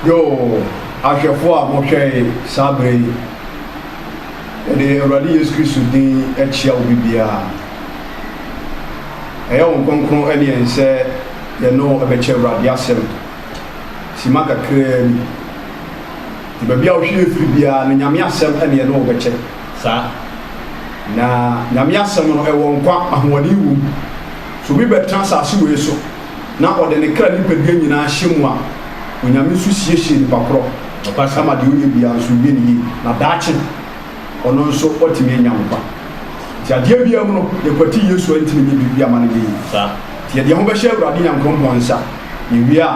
Yoo, ahwɛfo a mohwɛe saa bere yi, yɛde Awurade Yesu Kristo din kyia obi biara. Ɛyɛ wɔn kronkron ne yɛn sɛ yɛne wo bɛkyɛ Awurade asɛm. Sima kakraa bi, de baabi a wohwɛ yɛ firi biara no, Nyame asɛm ne yɛne wo bɛkyɛ. Saa. Na Nyame asɛm no, ɛwɔ nkwa, ahoɔden wom. So obi bɛtena asase wei so na ɔde ne kra nipadua nyinaa hyɛ mu a, Onyame nso siesie nipa korɔ ma deɛ ɔyɛ biara nso yɛ no yie, na daakye ɔno nso watumi anya nkwa. Nti adeɛ biara mu no, yɛkwati Yesu a, ntimi nyɛ biribi ama no yɛ yie. Nti yɛde yɛn ho bɛhyɛ Awurade Nyankrompɔn nsa, yɛwie a,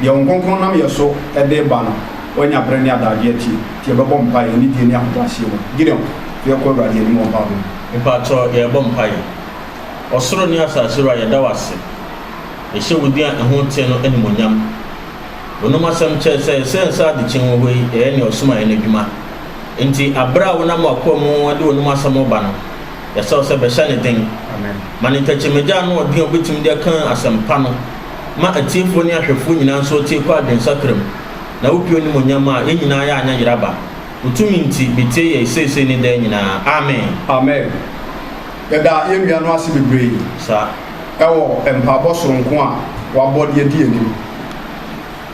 deɛ Wɔn Kronkron nam yɛn so de reba no, wanya berɛ ne adagyeɛ atie, nti yɛbɛbɔ mpaeɛ anidie ne ahobrɛaseɛ mu. Gideon, fa yɛn kɔ Awurade anim wɔ mpaebɔ mu. Mpakyɛw, yɛrebɔ mpaeɛ. Ɔsoro ne asase Wura, yɛda wo ase. Yɛhyɛ wo din a ɛho teɛ no animuonyam. Wonom asɛm kyerɛɛ sɛ sɛ nsa adekyen wɔ hɔ yi, ɛyɛ nea ɔsomaeɛ no adwuma. Enti bere a wonam w'akoa mu de wonom asɛm reba no, yɛsrɛ wo sɛ bɛhyɛ ne den. Ma ne tɛkyerɛmagya ano ɔden a ɔbɛtumi de aka asɛmpa no ma atiefoɔ ne ahwɛfoɔ nyinaa nso atie kɔ adwensakra mu, na wopue animuonyam a yɛn nyinaa yɛ anyɛ yeraba. Wo tumi nti, bɛtie yɛn seesei ne daa nyinaa. Amen. Amen. Yɛda yɛn nua no ase bebree wɔ mpaebɔ soronko a wabɔ de adi anim.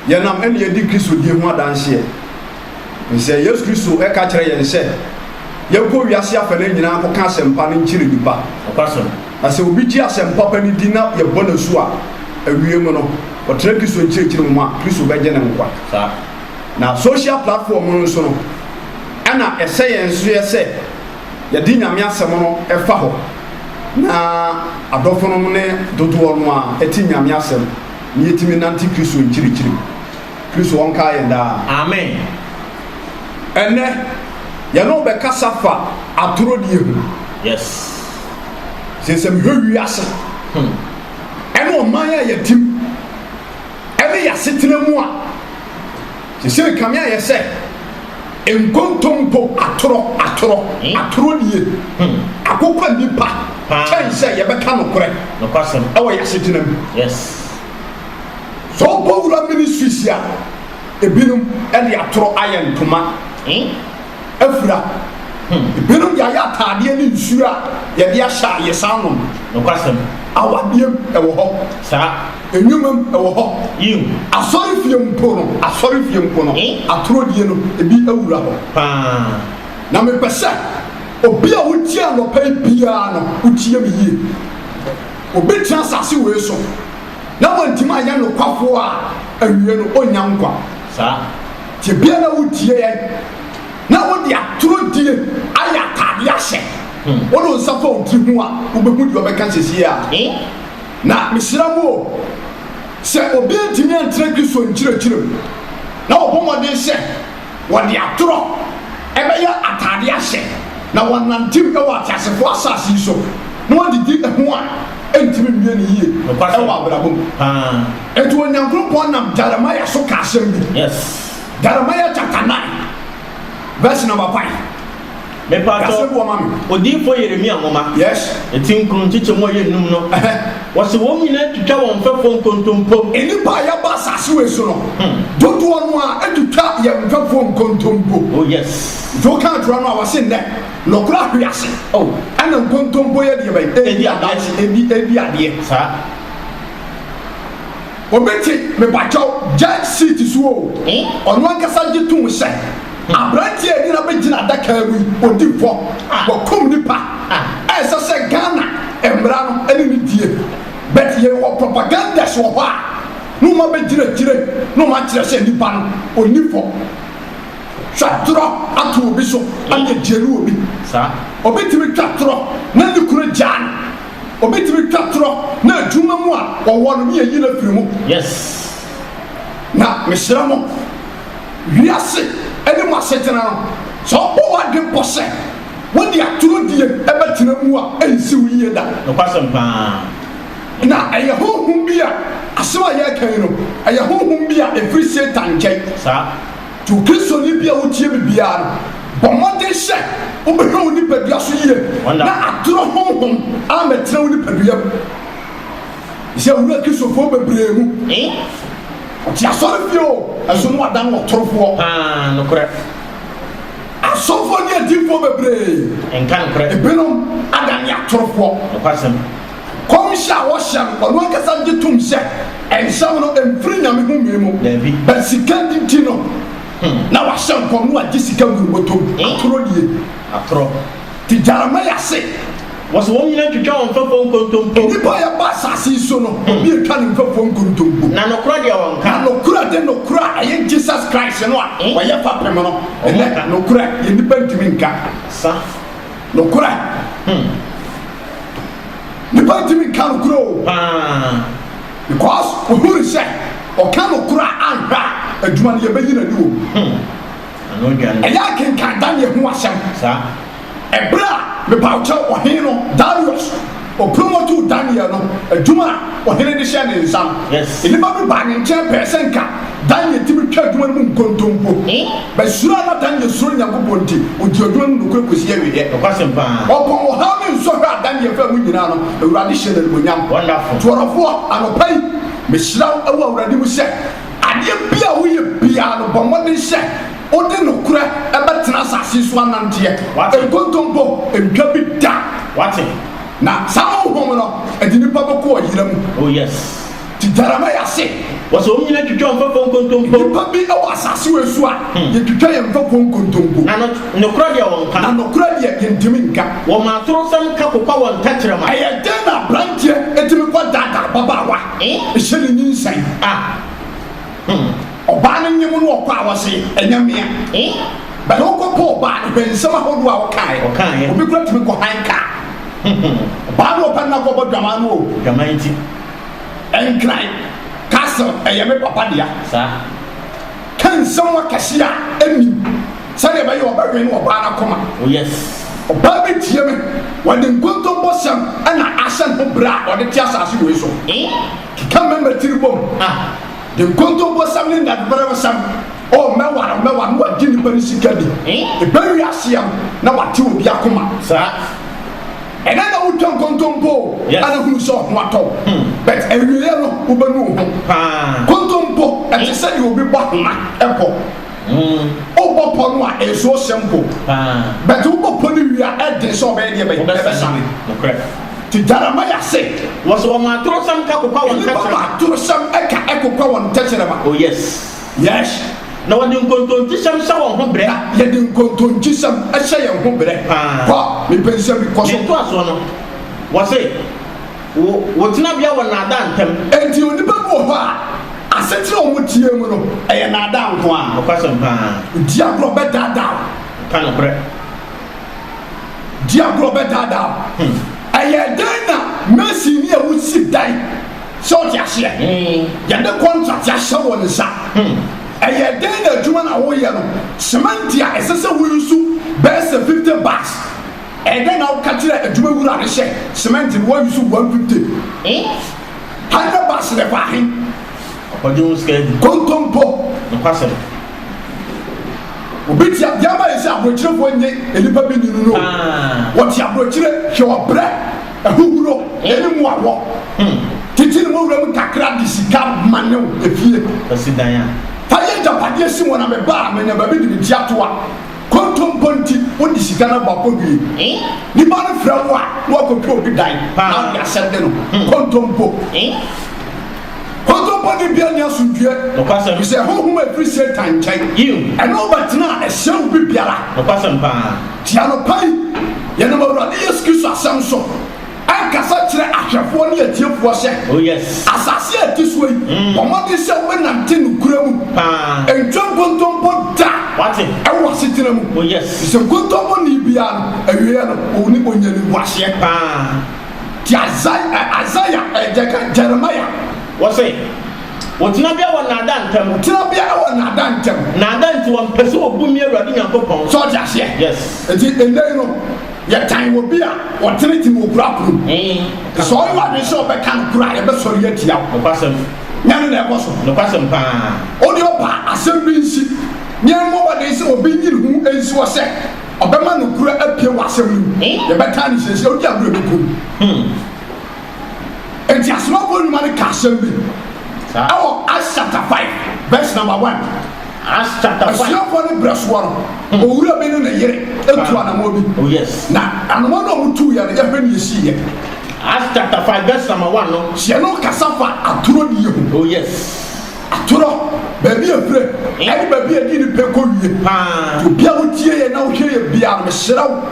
Yɛnam ɛna yɛdi Kristo die ho adanseɛ. Efisɛ Yesu Kristo ka kyerɛ yɛn sɛ yɛnkɔ wiase afanan nyinaa nkɔka asɛmpa no nkyere nnipa. Na sɛ obi gye asɛmpa pa no di na yɛbɔ no asu a, awiei mu no, ɔtena Kristo nkyerɛkyerɛ mu a, Kristo bɛgye no nkwa. Na social platform no nso no, ɛna ɛsɛ yɛn nso yɛ sɛ, Yɛde Nyame asɛm no fa hɔ na adɔfonom ne dodoɔ no a ɛte Nyame asɛm na yɛtumi nante Kristo nkyirikyiri mu. Kristo ɔnkaa yɛn daa. Amen. Ɛnnɛ yɛne wo bɛkasa fa atorɔ die ho. Yes. Sɛ sɛ mehwɛ wiase hmm. ɛne ɔman a yɛtim ɛne yɛasetena mu a Sesei Kame ayɛ sɛ nkontompo atorɔ atorɔ atorɔ nie akokɔ nnipa kyɛn sɛ yɛbɛka nokorɛ wɔ y'asetena mu. Sɛ wokɔ Wura Ministries a ebinom de atorɔ ayɛ ntoma afira, ebinom de ayɛ ataadeɛ ne nsuo a yɛde ahyɛ ayesaa nom. Awadeɛ mu ɛwɔ hɔ. Nnwuma mu, ɛwɔ hɔ. Yiw. Asɔrefie mpo no, asɔrefie mpo no, Eh? atorɔdie no, ebi awura hɔ. Paa. Na mepɛ sɛ obi a wotie anɔpa yi biara no, wotie me yie. Obi tena asase wei so na wantumi anyɛ nokwafoɔ a, awiei no, ɔnnya nkwa. Saa. Nti ebia na wotie yɛn, na wode atorɔdie ayɛ ataadeɛ ahyɛ. Wode wo nsa fa wo ti ho a, wobɛhu deɛ ɔbɛka seesei a. Eh? Na mesrɛ mo o, sɛ obi antumi antra Kristo nkyerɛkyerɛ mu, na wɔbɔ mmɔden sɛ wɔde atorɔ bɛyɛ ataade ahyɛ, na wɔnantew wɔ ateasefo asase yi so na wɔdidi ɛho a, ɛrentumi mmue no yie wɔ abrabɔ mu. Enti Onyankronkpɔn nam Jeremiah so ka asɛm bi. Jeremiah chapter nine verse number five. Mepatɔ, Odiyifoɔ Yeremia nwoma, ti nkron nkyekyɛ mu a ɛyɛ nnum no, wɔse wɔn nyinaa twitwa wɔn mfɛfoɔ nkontompo. Nnipa a yɛba asase wei so no, hmm. dodoɔ no a ɛtwitwa yɛn mfɛfoɔ nkontompo. Oh yes. Nti woka atorɔ no a wɔse nnɛ, nɔkorɔ ahwe ase. Oh. Ɛna nkontompo yɛ deɛ bɛyɛ. Ɛdi adeɛ. Ɛdi adeɛ. Saa. Obi te mepakyɛw gyae seat so oo, ɔno ankasa gye tom sɛ aberanteɛ a ɛnyina bɛgyina adaka mu yi ɔdi fɔ, wakum nipa, ɛnsɛ sɛ Ghana mmra no ɛne no die, but yɛ wɔ propagandas wɔ hɔ a na wɔn abɛgyina akyire na wɔn akyerɛ sɛ nipa no ɔnni fɔ. Twa torɔ ato obi so ɛna gyelu obi. Obi tumi twa torɔ na ne kunu gyaa no. Obi tumi twa torɔ na adwuma mu a ɔwɔ no ne yɛyi no afiri mu. Yes. Na mesrɛ mo, wiase ne mu asetena no, sɛ wobɔ w'adwene bɔ sɛ wode atorɔ die bɛtena mu a, ɛnsi wo yie da. Nokwasɛm paa. Na ɛyɛ honhom bi a, asɛm a yɛreka yi no, ɛyɛ honhom bi a ɛfiri Satan nkyɛn. Saa. To Kristoni bi a otie me biara no, bɔ mmɔden sɛ wobɛhwɛ wo nipadua so yie na atoro honhom ammɛtena wo nipadua mu. Sɛ wura Kristofoɔ bebree mu, wɔte asɔrefie o, nso na wɔadan wɔn torofoɔ. Asɔfoɔ ne adiyifoɔ bebree, ebinom adane atorofoɔ. Kɔmhyɛ a wɔhyɛ no, ɔno ankasa gye tom sɛ nsɛm no mfiri Nyame homee mu, but sika nti no na wahyɛ nkɔm na wagye sika gu ne bɔtɔ mu. Atorɔ nie. Atorɔ. Nti Jeremiah se. Wɔse wɔn nyina ntwitwa wɔn mfɛfoɔ nkontompo. Nnipa a yɛbɔ asase yi so no, obi ntwa ne mfɛfoɔ nkontompo. Na nokorɛ deɛ wɔnka. Na nokorɛ de nokorɛ a ɛyɛ Jesus Christ no a wɔyɛ fapem no, ɛnɛ nokorɛ deɛ nnipa ntumi nka. Sa. Nokorɛ. Hmm. Nipa ntumi nka nokorɛ o. Paa. Because ohu no sɛ ɔka nokorɛ a anhwɛ a adwuma no yɛbɛyi n'ani wɔ mu. Hmm. Ano odwan. Ɛyɛ a kenkan Daniel ho asɛm. Saa. Ɛberɛ a, mepawkyɛw, ɔhene no, Darius. Opromotuu Daniel no adwuma a ɔhene de hyɛɛ ne nsa no. Nnipa bi baa ne nkyɛn pɛɛ sɛ nka Daniel tumi twa adwuma no mu nkontompo. Bɛ suro a na Daniel suro Nyankopɔn nti, ɔdii adwuma no mu nokorɛ kɔsii awieɛ. Ɔpɔn ɔhaw ne nsɔhwɛ a Daniel faa mu nyinaa no, Awurade hyɛɛ no animuonyam. Twerɛfoɔ, anɔpa yi, mehyira wo wɔ Awurade mu sɛ, adeɛ biara a woyɛ biara no, bɔ mmɔden hyɛ. Wode nokorɛ bɛtena asase yi so ananteɛ, nkontompo ntwa bi da, wate, na saa Honhom no de nnipa bɛkɔ ɔyera mu. Oh, yes. Te Jeremiah ase. Wɔse wɔn nyinaa twitwa wɔn mfɛfoɔ nkontompo. Nnipa bi wɔ asase wei so a, yɛtwitwa yɛn mfɛfoɔ nkontompo. Na no, nokorɛ deɛ wɔnka. Na nokorɛ deɛ yɛntumi nka. Wɔma atorosɛm ka kokwa wɔn tɛkyerɛma. Ɛyɛ dɛn na aberanteɛ tumi kɔdaadaa ababaawa, hyɛ no nyinsɛn? Ah, hmm. Ɔbaa no nyem no ɔkɔ a wɔse ɛnyɛ mea eh But wokɔ pɛ ɔbaa no hwɛ nsɛm ahodoɔ a ɔkaeɛ Ɔkaeɛ Obi kora tumi kɔ han kaa Ɔbaa no ɔpɛ no na kɔbɔ dwaman no o Dwaman nti Nkran castle ɛyɛ me papa dea Saa Ka nsɛm akɛseɛ a ɛnnim Sɛdeɛ ɛbɛyɛ a ɔbɛwɛn no ɔbaa no akoma Oh yes Ɔbaa bi tie me Ɔde nkontompo sɛm na ahyɛ ne ho brɛ a ɔde te asase wei so eh Keka mɛma tiri bom ah De nkontombosɛm ne ndadberɛwsɛm, oh, mɛwar oh, mɛwar, na wɔagye nyimpa ne sika bi. Ebɛn wiase yɛ no na wɔatsew obi akoma saa? Nna na wotwa nkontompo o, ana hunu sɛ ɔho atɔ wo. But ewiei no, wobɛnu wo ho. Kontompo, ɛte sɛ deɛ obi bɔ ahoma bɔ. Wobɔ pɔ no a, nsuo hyɛ mpo. But wobɔ pɔ no wie a, ɛden sɛ ɔbɛyɛ deɛ bɛyɛ ɛbɛsane. Ti Jeremiah se. Wɔsɛ wɔn atorosɛm ka kokwa wɔn tɛkyerɛma. Nnipa ma atorosɛm ɛka ɛkokwa wɔn tɛkyerɛma. Oh yes. Yes. Na wɔde nkontonkyisɛm hyɛ wɔn ho brɛ. Na yɛde nkontonkyisɛm ɛhyɛ yɛn ho brɛ. Kɔ, mepɛ nsɛm bi, kɔ so. Ntoasoɔ no, wɔse. Wo wo tenabea wɔ nnaadaa ntam. Enti onipa bi wɔ hɔ a, asetena a wɔteɛ mu no, ɛyɛ nnaadaa nko ara. Nokwasɛm paa. Di agorɔ bɛdaadaa wo. Ka nokorɛ. Di agorɔ bɛdaadaa wo. Hmm. Ɛyɛ dɛn na masini a wosi dan sɛ ɔte aseɛ? Hmm. Yɛde kɔntrakte ahyɛ wɔn nsa. Hmm. Ɛyɛ dɛn na adwuma no a woyɛ no, semɛnte a ɛsɛ sɛ woyi so bɛyɛ sɛ 50 bags. Ɛdɛn na woka kyerɛ adwuma wura no hyɛ cement no wɔn use one fifty eh hundred bars na ɛkɔ ahen. Ɔkɔgye wo sika adi kontompo nokwasɛm. Obi te adeɛ ma yɛ sɛ aborɔkyirefoɔ nye nnipa bi nni no no wɔte aborɔkyire hwɛ ɔbrɛ ahuhuro ɛne mu awɔ titi ne mu wuram kakra de sika ma ne efie fa yɛ agyapadeɛ si wɔn a mebaa menya baabi de me ti ato a Kontompo nti wode sika no abɔ abɔdwee. Nipa no frɛ wo a na wakɔtwa obi dan na wode asɛm de no ho. Kontompo. Kontompo ne bia ni asomdwie. Nokwasɛm. Bisɛ honhom a ɛfiri Satan nkyɛn. Yiw. Ɛno wobɛtena a ɛhyɛ wo biribiara. Nokwasɛm paa. Ti anɔpa yi, yɛnam Awurade Yesu Kristo asɛm so. Ɛnkasa kyerɛ ahwɛfoɔ ne atiefoɔ sɛ, Oh yes. Asase a ɛte soɔ yi, bɔ mmɔden sɛ wobɛnante nokorɛ mu. Paa. Ntwa nkontompo da Wate. wɔ w'asetena mu. Oh yes. Ɛfiri sɛ nkontomponi biara no, awieeɛ no, ɔwuni, ɔnnya animguaseɛ. Paa. Nti Isaia, ɛ, Isaiah, ɛ, deɛ ɛka Jeremiah. Wɔse, Wo tenabea wɔ nnaadaa ntam. Wo tenabea wɔ nnaadaa ntam. Nnaadaa nti wɔmpɛ sɛ wɔbu me Awurade Nyankopɔn. So wote aseɛ? Yes. Nti nnɛ yi no. Yɛtan obi a ɔtenetene wɔ kura koro mu. Sɛ ɔyɛ wadwene sɛ ɔbɛka no koro a, yɛbɛsɔre atia wo. Nokwasɛm. Nyɛ no na ɛkɔ so. Nokwasɛm paa. Audio Pa asɛm bi nsi, na yɛmmɔ mmɔden sɛ obi nyi ne ho nsi hɔ sɛ ɔbɛma nokorɛ apue wɔ asɛm no mu. Yɛbɛtan no seesei, odi agorɔ a ɛbɛku no. Enti Asomafo Nnwuma no ka asɛm bi wɔ Acts chapter five verse number one. Asuafoɔ no berɛ soɔ no, hmm. owura bi ne ne yere tu anamɔ bi. Oh, Na anamɔ no a wɔtu yɛ no, yɛhwɛ ne yɛsi yɛ. Acts chapter five verse number one no. Hyɛ no kasa fa atoro ne yɛ ho. Oh yes. Atoro baabi efirɛ ɛne baabi edi ne pɛ kɔ wie. Obi a wotie yɛ na wohwɛ yɛ biara no, mesrɛ wo.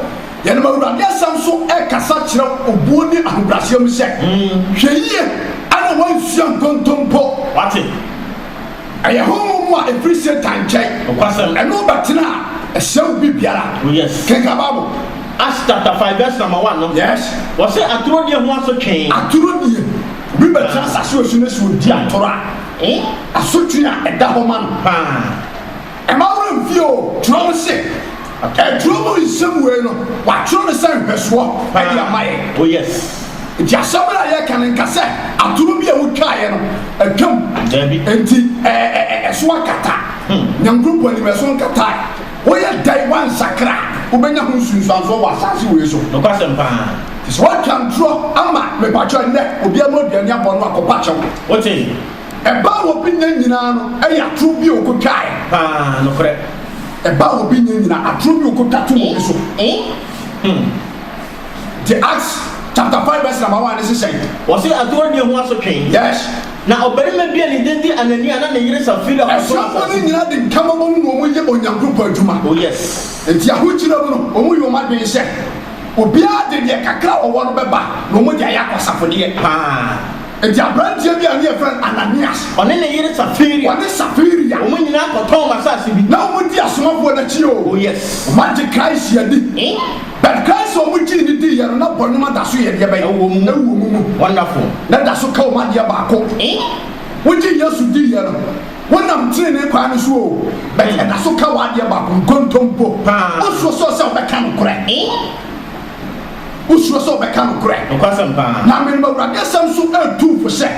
Yɛnam Awurade Asɛm so rekasa kyerɛ obuo ne ahobrɛaseɛ mu sɛ, Hwɛ yie na woansua nkontompo. Wate? Ɛyɛ honhom mu a ɛfiri Satan nkyɛn. Ɛne wo bɛtena a, ɛsɛe wo biribiara. Oh, Kenkan Bible. Acts chapter five verse number one no. Yes. Wɔsɛ atoro die ho asotwe. Atoro die. Obi bɛtena asase osu no so odi atoro a. Eh? Asotwe a ɛda hɔ ma no. Paa. Mma wo anfie o, twerɛ no se, Twerɛ mu nsɛm wei no, wɔatwerɛ no sɛ nhwɛsoɔ de ama yɛn. Nti asɛm no a yɛreka no, nka sɛ atoro bi a wotwaeɛ no atwam, nti ɛso akata. Nyankoropɔn anim, ɛso nkatae. Woyɛ dɛn woansakra a, wobɛnya ho nsunsuansoɔ wɔ asaase wei so. Nti sɛ woatwa ntorɔ ama, mepakyɛw, ɛnnɛ obiara mu aduane abɔ no a, kɔpa kyɛw. Ɛba a obi nya nyinaa no yɛ atoro bi a okotwae. Paa, nokorɛ. Ɛba a obi nya nyinaa, atoro bi a okotwa tom obi so. Te Acts chapter five verse number one ne se sɛn? Wɔse atoro nie ho asotwe. Yes. Na ɔbarima bi a ne din de Anania na ne yere Safira kɔsom asase. Asuafoɔ no nyinaa de ntam bɔ mu na wɔn yɛ Onyankopɔn adwuma. Oh yes. Enti ahokyira mu no, wɔn yɛ wɔn adwene sɛ, obiara de deɛ kakra a ɔwɔ no bɛba na wɔn de ayɛ akwasafodeɛ. Paa. Enti aberanteɛ bi a ne yɛfrɛ no Ananias. Ɔne ne yere Safiria. Ɔne Safiria. Wɔn nyinaa kɔtɔn wɔn asase bi. Na wɔn di asomafoɔ no akyi o. Oh yes. Wɔn agye Christ adi. Eh? But Christ a wɔn gyee no dii yɛ no na bɔne no da so yɛ deɛ bɛn? Ɛwɔ wɔn mu. Ɛwɔ wɔn mu. Wonderful. Na ɛda so ka wɔn adeɛ baako. Eh? Wogye Yesu dii yɛ no, wonam tenenee kwan no so o. But ɛda so ka wɔn adeɛ baako, nkontompo. Paa. Wosuro sɛ ɔsɛ ɔbɛka nokorɛ. Eh? Wosuro sɛ wɔbɛka nokorɛ. Nokwasɛm paa. Na menam Awurade asɛm so retu wo fo sɛ,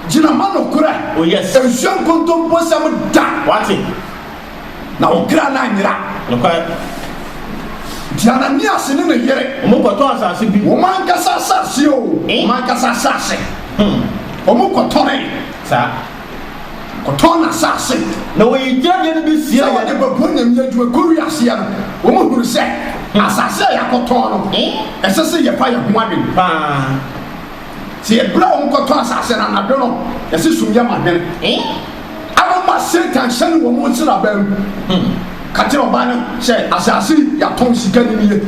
gyina ma nokorɛ. Oh yes. Nsua nkontomposɛm da. Wate. Na wo kra no anyera. Nokware. Nti Ananias ne ne yere. Wɔn kɔtɔ asase bi. Wɔn ankasa asase o. Eh? Wɔn ankasa asase. Hmm. Wɔn kɔtɔree. Saa. Ɔtɔɔ n'asaase. Na wɔyii gyinadeɛ no bi siee yɛn. Sɛ wɔde bɛbɔ Nyame adwuma kɔ wiaseɛ no, wɔn hunu sɛ asaase a yɛakɔtɔɔ no, ɛsɛ sɛ yɛfa yɛn ho adwene paa. Sɛ ɛberɛ a wɔn kɔtɔɔ asaase no anadwo no, yɛse sum yɛ ma hwene. Ano ma Satan hyɛne wɔn nsraban mu, ka kyerɛ ɔbaa no sɛ, Asaase yi yɛatɔn, sika no nie,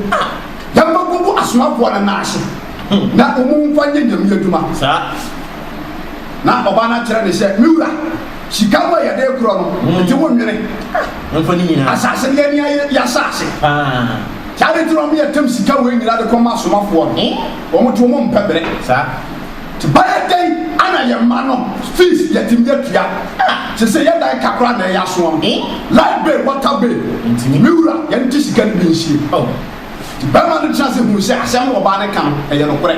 yɛn mma nkogu asomafoɔ no nan ase, na wɔn mfa nyɛ Nyame adwuma. Saa. Na ɔbaa no akyerɛ no sɛ, Me wura, sika mu a yɛde rekorɔ no, nti wonnwene. Asase no yɛn yɛn asase. Saa ade nti na wɔyɛ tam sika wei nyinaa de kɔma asomafoɔ no. Wɔn nti wɔn mpɛ bere. Nti bɛyɛ dɛn ana yɛn mma no fees yɛtumi atua? Sese yɛn dan ka koraa na ɛyɛ asoɔ no. Light bill, water bill. Me wura, yɛn nti sika no bi nsie. Barima no gyina ase huu sɛ asɛm no ɔbaa no ka no, ɛyɛ nokorɛ.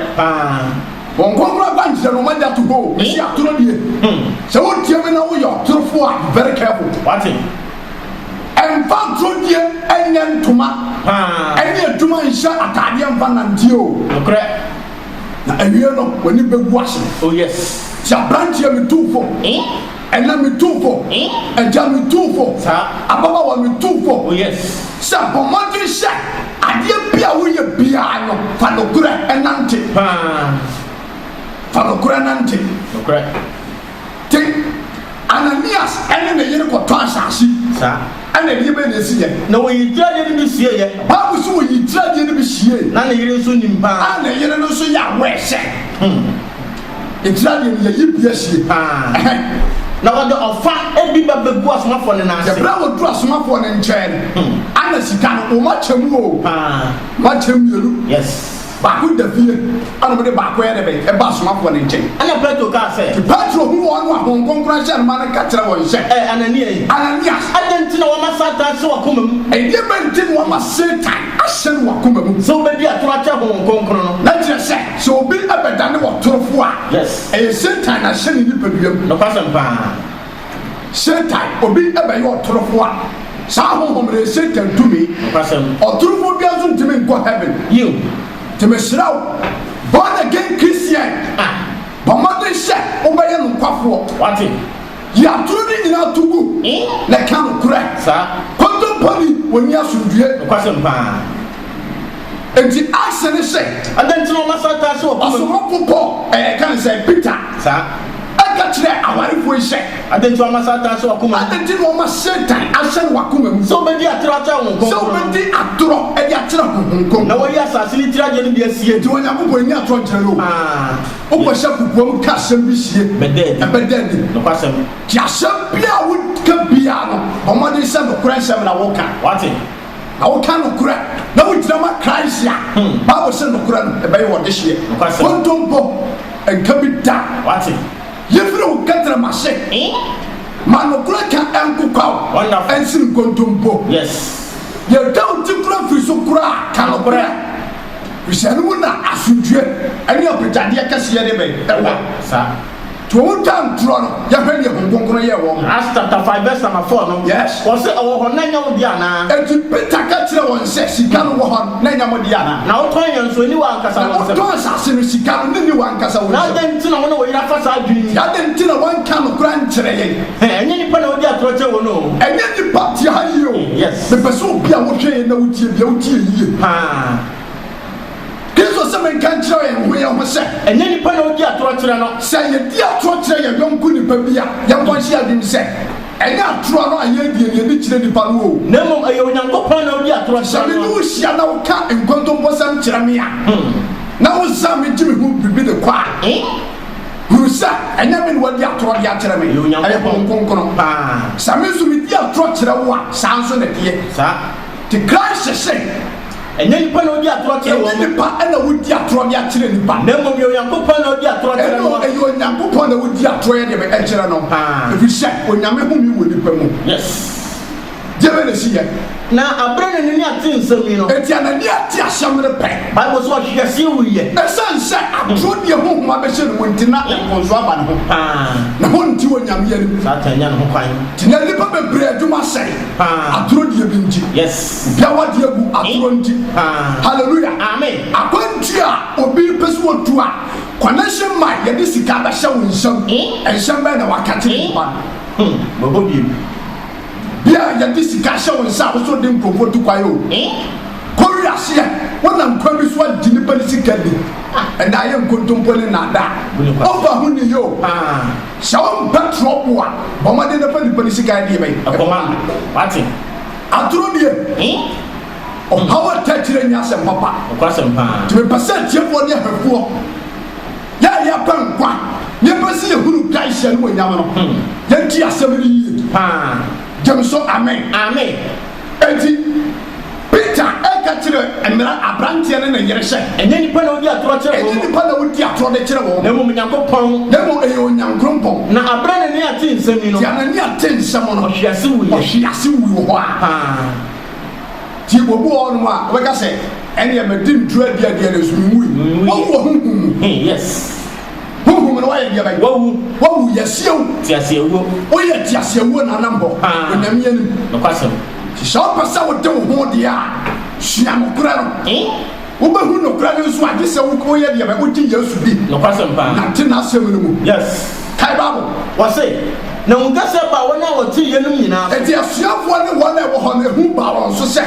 Wɔn kronkron akwankyerɛ no, wɔagya to hɔ o, ɛsi atoro die. Sɛ wotie me na woyɛ ɔtorofoɔ a, be very careful. Wate? Ɛmfa atoro die nyɛ ntoma ne adwuma nhyɛ ataadeɛ mfa nnanteɛ o. Nokorɛ. Na awie no, w'ani bɛgu ase. Oh yes. Sɛ aberanteɛ metu wo fo. Ɛnɛ me tu fo, Agya me tu fo, ababaawa me tu fo sɛ bɔ mmɔden hyɛ adeɛ bi a woyɛ biara no fa nokorɛ nante. Fa nokorɛ nante. Te, Ananias ne ne yere kɔtɔ asaase. Ɛna ɛdeɛ bɛn na ɛsi yɛ? Na wɔyi tiri adeɛ no bi sie yɛ. Bible sɛ wɔyi tiri adeɛ no bi sie. Na ne yere nso nim paa. A ne yere no nso yɛ aware sɛ. Egyina deɛ ne yɛyi bia hyie paa. Ɛhɛn, na wɔde ɔfa bi ba bɛgu asomafoɔ no nan ase. Ɛberɛ a wɔduru asomafoɔ no nkyɛn no, ana sika no, wɔma kyɛ mu oo, wɔma kyɛ mmienu. Yes. Baako da fie, ɛna wɔde baako yɛ dɛ bɛn? Ɛba asomafoɔ no nkyɛn. Ɛna Petro kaa sɛ. Te Petro hu wɔn no a Honhom Kronkron ahyɛ no ma no ka kyerɛ wɔn sɛ. Ɛɛ, Anania yi. Anania. Adɛn nti na wɔama Satan ahyɛ w'akoma mu? Ɛdeɛbɛn nti na wɔama Satan. ahyɛ no w'akoma mu. Sɛ wobɛdi atoro akyɛ Honhom Kronkron no. Na kyerɛ sɛ, sɛ obi bɛdane ɔtorofo a, Yes. ɛyɛ Satan na ahyɛ ne nipadua mu. Nokwasɛm paa. Satan, obi bɛyɛ ɔtorofo a, saa Honhom no yɛ Satan tumi. Nokwasɛm. Ɔtorofo biara nso ntumi nkɔ Heaven. Yiw. Nti mesrɛ wo, born again Christian, Ah. bɔ mmɔden hyɛ wobɛyɛ nokwafoɔ. Wate. Yi atoro no nyinaa to gu na ka nokorɛ. Kontomponi, wɔnni asomdwoeɛ. Nokwasɛm pa ara. Enti Axe no se. Adɛn nti na wɔma saa taa hyɛ w'akoma mu? Ɔsomafo Paul reka no sɛn? Peter. Saa. Ka kyerɛɛ awarefoɔ yi sɛ. Adɛn nti na wɔma saa taa hyɛ w'akoma mu? Adɛn nti na wɔma Satan ahyɛ no w'akoma mu. Sɛ wobɛdi atorɔ akyerɛ honhom kronkron no. Sɛ wobɛdi atorɔ de akyerɛ honhom kronkron no. Na wɔayi asase no tiri adeɛ no bi asie. Enti Onyankopɔn nni atorɔ nkyerɛ no o. Aa. Wobɛhyɛ kokoam ka asɛm bi sie, ɛbɛda adi. Nti asɛm biara a woka biara no, bɔ mmɔden sɛ nokorɛ nsɛm na woka. Na woka nokorɛ, na wogyina ma Christ a, Bible se nokorɛ no, ɛbɛyɛ wo ɔdehyeɛ. Kontompo nka bi da. Yi firi wo kɛtrɛma ase. Ma nokorɛ ka ɛnkokwa wo, ɛnsene nkontompo. Deɛ ɛda wo ti kora firi so koraa, ka nokorɛ. Efisɛ ɛno mu na asomdwoeɛ ne abagyadeɛ kɛseɛ deɛ bɛn? Ɛwɔ. Saa. Nti wɔn twa ntorɔ no, yɛhwɛ deɛ Honhom Kronkron yɛɛ wɔn. Acts chapter five verse number four no. Yes. Wɔse ɛwɔ hɔ, na ɛnyɛ wo deɛ anaa? Enti Peter ka kyerɛɛ wɔn sɛ, Sika no wɔ hɔ no, na ɛnyɛ mo deɛ anaa? Na wotɔn yɛn nso, ɛnni w'ankasa Na wo nsam. wotɔn asase no, sika no, ne nni w'ankasa wo Na nsam. adɛn nti na wo ne wo yere afa saa adwene yi? Nti adɛn nti na woanka nokorɛ ankyerɛ yɛn? Hɛ, ɛnyɛ nnipa na wodi atorɔ kyerɛ wɔn o. Ɛnyɛ nnipa, tie ha yie o. Yes. Mepɛ sɛ obi a wohwɛ yɛn na wotie bia wotie yie paa. Kristo se menka nkyerɛ yɛn ho yɛn ho sɛ. Ɛnyɛ nipa na odi atorɔ kyerɛ no. Sɛ yedi atorɔ kyerɛ yɛn yɔnko nipa bi a, yɛnkɔ nhyɛ yɛn adwenem sɛ, ɛnyɛ atorɔ no a yɛredie na yedi kyerɛ nipa no oo. Na mmom ɛyɛ Onyankopɔn na odi atorɔ kyerɛ no. Sɛ me ne wo hyia na woka nkontomposɛm kyerɛ me a, na wosan me gye me ho biribi de kɔ a. hunu sɛ ɛnyɛ me na wadi atorɔ de akyerɛ me, ɛyɛ Honhom Kronkron. Sɛ me nso medi atorɔ kyerɛ wo a, saa nso na ɛteɛ. Te Christ se, Ɛnyɛ nnipa na wodi atorɔ kyerɛ wɔn. Ɛnyɛ nnipa na wodi atorɔ de akyerɛ nnipa. Na mmom ɛyɛ Onyankopɔn na wodi atorɔ kyerɛ no. Ɛyɛ Onyankopɔn na wodi atorɔ yɛ de me kyerɛ no, ɛfiri sɛ Onyame home wɔ nnipa mu. Deɛ bɛn na ɛsi yɛn. Na aberɛ na n'ani ate nsɛm yi no. Enti a n'ani ate asɛm no pɛn. Bible sɛ ɔhwee aseɛ wuiɛ. Ɛsiane sɛ atorɔ deɛ honhom abɛhyɛ no mu nti, na mfomsoɔ aba ne ho. Paa. Na honte Onyame anim. Satan anya ne ho kwan. Nti na nnipa bebree adwuma sɛe. Paa. Atorɔ die bi nti. Yes. Obi awadeɛ agu atorɔ nti. Paa. Hallelujah. Amen. Akwantuo a obi pɛ sɛ ɔtu a, connection man yɛde sika bɛhyɛ wo nsam. Eh. Nsɛm bɛn na waka kyerɛ nnipa no. Hmm. Bɛbɔ biem. Bi a yɛde sika ahyɛ wo nsa a wosɔ de nkurɔfoɔ tu kwan o. Kɔ wira ase a, wonam kwan bi so agye nnipa no sika bi. Ɛnde ayɛ nkontompo ne nnaadaa. Wofa ho nni yie o. Sɛ wompɛ trɔbo a, bɔ mmɔden na fa nnipa no sika deɛ bɛn? Kɔma no. Wate? Atoro deɛ, ɔhaw a ɛtaa akyire nyɛ asɛm papa. Nti mepɛ sɛ atiefoɔ ne ahwɛfoɔ Yɛn a yɛrepɛ nkwa na yɛpɛ sɛ yɛhunu Christ animuonyam no, yɛntie asɛm no yie paa. Gye me so, amen? Amen. Enti, Peter reka kyerɛ mmara aberanteɛ ne ne yere sɛ. Ɛnyɛ nnipa na wodi atorɔ kyerɛ wɔn. Ɛnyɛ nnipa na wodi atorɔ de kyerɛ wɔn. Na mmom Onyankopɔn. Na mmom ɛyɛ Onyankrompɔn. Na aberɛ Anania tee nsɛm yi no. Enti Anania tee nsɛm no. Ɔhwee ase wuiɛ. Ɔhwee ase wui wɔ hɔ ara. Paa. Nti obi wɔ hɔnom a ɔbɛka sɛ ɛneɛ madi nturo adi adeɛ no so menwui wawu wɔ honhum mu hmm, yes honhum no wayɛ deɛ bɛyɛ wawu wawu yɛseɛ wo tiaseɛwuo woyɛ tiaseɛwuo na anam hɔ onyame anim nokwasɛm sɛ wopɛ sɛ wode wo ho deɛ a sua nokorɛ no Wobɛhu nokorɛ no nso a, gye sɛ wo kɔn yɛ deɛ bɛn? Wogye Yesu di. Nokwasɛm paa. Nante N'asɛm no mu. Yes. Kae Bible. Wɔse, Na Hu kɛseɛ baa wɔn a wɔtee yeinom nyinaa so. Enti asuafoɔ ne wɔn a ɛwɔ hɔ no, ehu baa wɔn so sɛ,